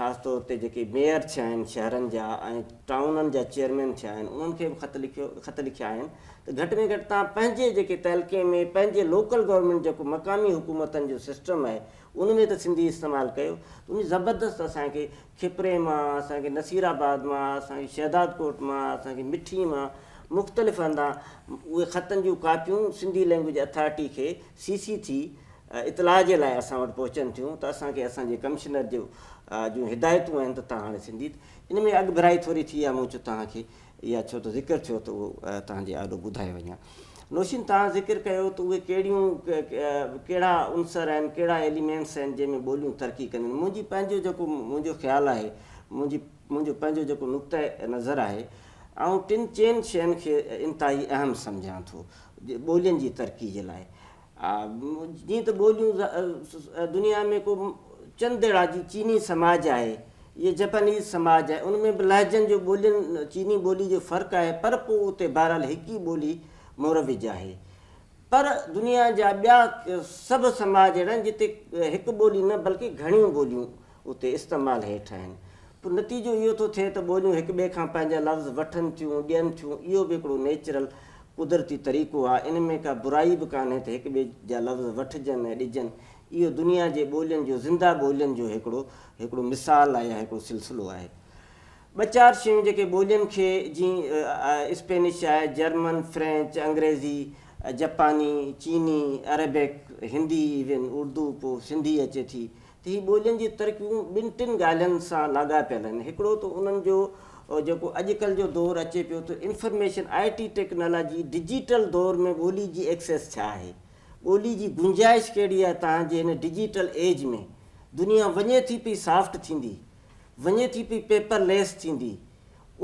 خاص طور تي جيڪي ميئر ٿيا آهن شهرن جا ۽ ٽائونن جا چيئرمين ٿيا آهن انهن کي به خط لکيو خط لکيا آهن ته گهٽ ۾ گهٽ توهان پنهنجي جيڪي تعلقي ۾ پنهنجي لوڪل گورنمينٽ جيڪو مقامي حڪومتن جو سسٽم آهي ان ۾ ته سنڌي استعمال ڪيو ته ان زبردست اسان کي کپري مان اسان کي نصير آباد مان اسان کي شهداد ڪوٽ مان اسان کي مٺي مان مختلف هندا اهي خطن جون ڪاپيون سنڌي لينگويج اٿارٽي کي سي سي ٿي اطلاع جي لاء اسان وٽ پهچن ٿيون ته اسان کي اسان جي ڪمشنر جو جون هدايتون آهن ته تهان هاڻي سنڌي ان ۾ اڳڀرائي ٿوري ٿي آهي مون چيو تهان کي اها ڇو ته ذڪر ٿيو ته اهو تهان جي آڏو ٻڌائي وڃان نوشين تهان ذڪر ڪيو ته اهي ڪهڙيون ڪهڙا عنصر آهن ڪهڙا ايليمينٽس آهن جنهن ۾ ٻوليون ترقي ڪنديون آهن منهنجي پنهنجو جيڪو منهنجو خيال آهي منهنجي منهنجو پنهنجو جيڪو نقطه نظر آهي آئون ٽن چئن شين کي انتهائي اهم سمجهان ٿو ٻولين جي ترقي جي لاء جيئن ته ٻوليون دنيا ۾ ڪو چند اهڙا جي چيني سماج آهي يا جپانيز سماج آهي ان ۾ به لهجن جو ٻولين چيني ٻولي جو فرق آهي پر پوء اتي بهرحال هڪ ئي ٻولي مروج آهي پر دنيا جا ٻيا سڀ سماج اهڙا آهن جتي هڪ ٻولي نه بلڪه گهڻيون ٻوليون اتي استعمال هيٺ آهن. پوء نتيجو اهو ٿو ٿئي ته ٻوليون هڪ ٻئي کان پنهنجا لفظ وٺن ٿيون، ڏين ٿيون، اهو به هڪڙو نيچرل، قدرتي، طريقو آهي، ان ۾ ڪا برائي به ڪانهي ته هڪ ٻئي جا لفظ وٺجن ۽ ڏجن، اهو دنيا جي ٻولين جو، زنده ٻولين جو هڪڙو هڪڙو مثال آهي يا هڪڙو سلسلو آهي. ٻه چار شيون جيڪي ٻولين کي جيئن اسپينش آهي، جرمن، فرينچ، انگريزي، جپاني، چيني، عربڪ، هندي، ايون اردو پوء سنڌي اچي ٿي، ته هي ٻولين جون ترڪيبون ٻن ٽن ڳالهين سان لاڳاپيل آهن. هڪڙو ته انهن جو جيڪو اڄڪلهه جو دور اچي پيو ته information I T technology digital دور ۾ ٻولي جي ايڪسيس ڇا آهي؟ ٻولي جي گنجائش ڪهڙي آهي تان جي هن ڊجيٽل ايج ۾ دنيا وڃي ٿي پئي سافٽ ٿيندي، وڃي ٿي پئي پيپر ليس ٿيندي،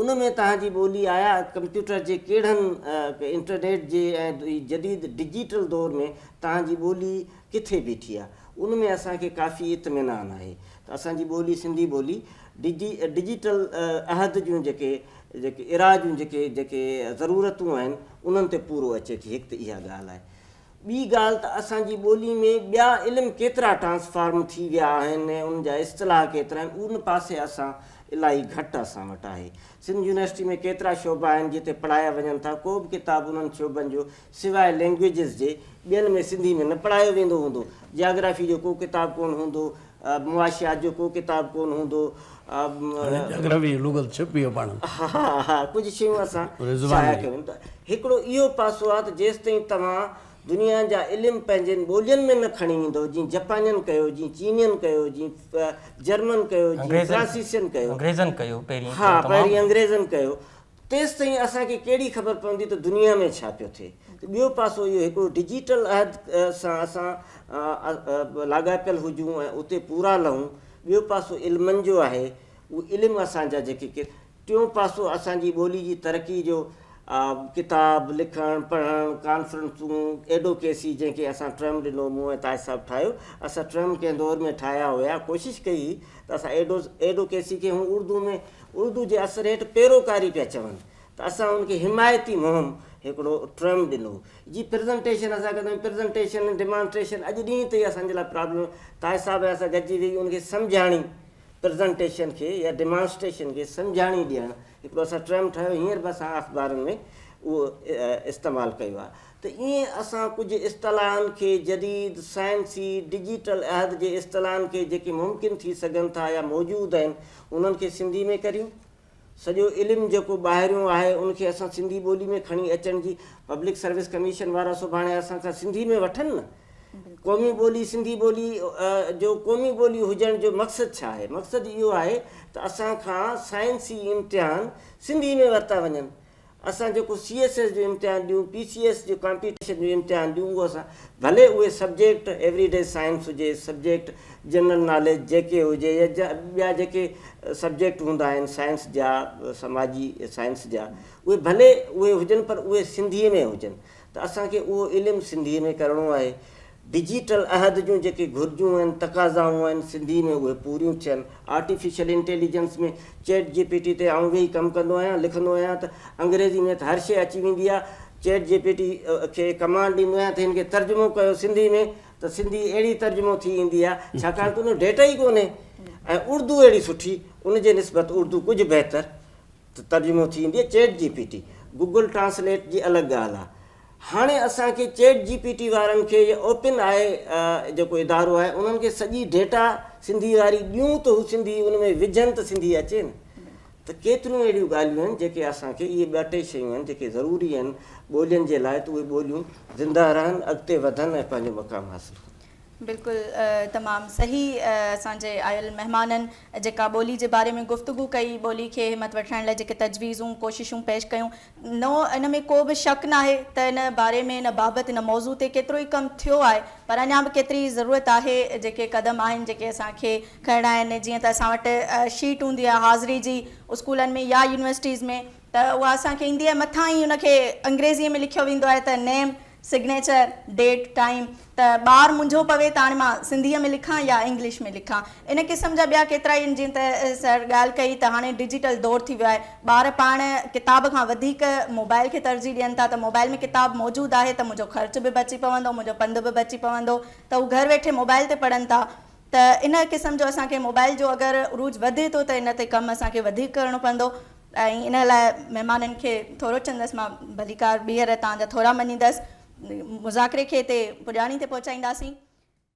ان ۾ توهان جي ٻولي آيا ڪمپيوٽر جي ڪهڙن انٽرنيٽ جي ۽ هي جديد ڊجيٽل دور ۾ توهان جي ٻولي ڪٿي بيٺي آ ان ۾ اسان کي ڪافي اطمينان آهي ته اسان جي ٻولي سنڌي ٻولي ڊجي ڊجيٽل عهد جون جيڪي جيڪي ارا جون جيڪي جيڪي ضرورتون آهن انهن تي پورو اچي ٿي هڪ ته اها ڳالهه آهي ٻي ڳالهه ته اسان جي ٻولي ۾ ٻيا علم ڪيترا ٽرانسفارم ٿي ويا آهن ۽ ان جا اصطلاح ڪيترا آهن ان پاسي اسان الاهي گهٽ اسان وٽ آهي. سنڌ يونيورسٽي ۾ ڪيترا شعبا آهن جتي پڙهايا وڃن ٿا ڪو به ڪتاب انهن شعبن جو سواء لينگويجز جي ٻين ۾ سنڌي ۾ نه پڙهايو ويندو هوندو. جاگرافي جو ڪو ڪتاب ڪونه هوندو. معاشيات جو ڪو ڪتاب ڪون هوندو هو. جگرافي جي لغت ڇپي هو پاڻ ۾. ها ها ڪجهه شيون اسان شايع ڪيون ته هڪڙو اهو پاسو آهي ته جيستائين توهان دنيا جا علم پنهنجين ٻولين ۾ نه کڻي ويندؤ جيئن جپانين ڪيو جيئن چينين ڪيو جيئن جرمن ڪيو جيئن فرانسيسين ڪيو انگريزن ڪيو پهرين ها پهرين انگريزن ڪيو تيستائين اسان کي ڪهڙي خبر پوندي ته دنيا ۾ ڇا پيو ٿئي؟ ته ٻيو پاسو اهو هڪڙو ڊجيٽل عهد سان اسان لاڳاپيل هجون ۽ اتي پورا لهون، ٻيو پاسو علمن جو آهي، اهي علم اسان جا جيڪي ڪي، ٽيون پاسو اسان جي ٻولي جي ترقي جو ڪتاب لکڻ، پڙهڻ، ڪانفرنسون، ايڊوڪيسي جنهن کي اسان ٽرم ڏنو، مون ۽ تاج صاحب ٺاهيو، اسان ٽرم ڪنهن دور ۾ ٺاهيا هيا، ڪوشش ڪئي هئي ته اسان ايڊوڪيسي کي هون اردو ۾ اردو جي اثر هيٺ پيروڪاري پيا چون ته اسان ان کي حمايتي مهم هڪڙو ٽرم ڏنو جي پرزنٽيشن اسان ڪندو پرزنٽيشن ڊيمانسٽريشن اڄ ڏينهن تائين اسان جي لاء پرابلم طاهر صاحب اسان گڏجي ويهي ان کي سمجهاڻي پرزنٽيشن کي يا ڊيمانسٽريشن کي سمجهاڻي ڏيڻ هڪڙو اسان ٽرم ٺاهيو هينئر به اسان اخبارن ۾ اهو استعمال ڪيو آهي ته ائين اسان ڪجهه اصطلاحن کي جديد، سائنسي، ڊجيٽل عهد جي اصطلاحن کي جيڪي ممڪن ٿي سگهن ٿا يا موجود آهن انهن کي سنڌي ۾ ڪريون. سڄو علم جيڪو ٻاهريون آهي ان کي اسان سنڌي ٻولي ۾ کڻي اچڻ جي پبلڪ سروس ڪميشن وارا سڀاڻي اسان کان سنڌي ۾ وٺن نه. قومي ٻولي سنڌي ٻولي جو قومي ٻولي هجڻ جو مقصد ڇا آهي؟ مقصد اهو آهي ته اسان کان سائنسي امتحان سنڌي ۾ ورتا وڃن اسان جيڪو سي ايس ايس جو امتحان ڏيون، پي سي ايس جو ڪامپيٽيشن جو امتحان ڏيون اهو اسان ڀلي اهي سبجيڪٽ ايوري ڊي سائنس هجي، سبجيڪٽ جنرل ناليج جي ڪي هجي يا ٻيا جيڪي سبجيڪٽ هوندا آهن سائنس جا سماجي سائنس جا اهي ڀلي اهي هجن پر اهي سنڌي ۾ هجن ته اسان کي اهو علم سنڌي ۾ ڪرڻو آهي. ڊجيٽل عهد جون جيڪي گهرجون آهن، تقاضائون آهن، سنڌي ۾ اهي پوريون ٿين. Artificial intelligence ۾ chat G P T تي آئون ويهي ڪم ڪندو آهيان، لکندو آهيان ته انگريزي ۾ ته هر شيء اچي ويندي آهي، چيٽ جي پي ٽي کي ڪمانڊ ڏيندو آهيان ته هن کي ترجمو ڪيو سنڌي ۾ ته سنڌي اهڙي ترجمو ٿي ايندي آهي، ڇاڪاڻ ته ان جو ڊيٽا ئي ڪونهي ۽ اردو اهڙي سٺي، ان جي نسبت اردو ڪجهه بهتر ته ترجمو ٿي ايندي آهي، chat G P T, Google translate جي الڳ ڳالهه آهي. هاڻي اسان کي چيٽ جي پي ٽي وارن کي يا اوپن آء جيڪو ادارو آهي انهن کي سڄي ڊيٽا سنڌي واري ڏيون ته هو سنڌي ان ۾ وجهن ته سنڌي اچي نه ته ڪيتريون اهڙيون ڳالهيون آهن جيڪي اسان کي اهي ٻه ٽي شيون آهن جيڪي ضروري آهن ٻولين جي لاء ته اهي ٻوليون زنده رهن اڳتي وڌن ۽ پنهنجو مقام حاصل ڪن. بلڪل تمام صحيح اسان جي آيل مهمانن جيڪا ٻولي جي باري ۾ گفتگو ڪئي ٻولي کي همت وٺرائڻ لاء جيڪي تجويزون ڪوششون پيش ڪيون نو ان ۾ ڪو به شڪ ناهي ته ان باري ۾ ان بابت ان موضوع تي ڪيترو ئي ڪم ٿيو آهي پر اڃان به ڪيتري ئي ضرورت آهي جيڪي قدم آهن جيڪي اسان کي کڻڻا آهن جيئن ته اسان وٽ شيٽ هوندي آهي حاضري جي اسڪولن ۾ يا يونيورسٽيز ۾ ته اها اسان کي ايندي آهي مٿان ئي ان کي انگريزي ۾ لکيو ويندو آهي ته نيم سگنيچر، ڊيٽ، ٽائيم ته ٻار منجهو پوي ته هاڻي مان سنڌيء ۾ لکان يا انگلش ۾ لکان. ان قسم جا ٻيا ڪيترائي آهن جيئن ته سر ڳالهه ڪئي ته هاڻي ڊجيٽل دور ٿي ويو آهي ٻار پاڻ ڪتاب کان وڌيڪ موبائل کي ترجيح ڏين ٿا ته موبائل ۾ ڪتاب موجود آهي ته منهنجو خرچ به بچي پوندو منهنجو پنڌ به بچي پوندو ته هو گهر ويٺي موبائل تي پڙهن ٿا ته ان قسم جو اسان کي موبائل جو اگر عروج وڌي ٿو ته ان تي ڪم اسان کي وڌيڪ ڪرڻو پوندو ۽ ان لاء مهمانن کي ٿورو چندس مان ڀليڪار ٻيهر توهان جا ٿورا مڃيندس مذاڪري کي تي پڄاڻي تي پهچائينداسين.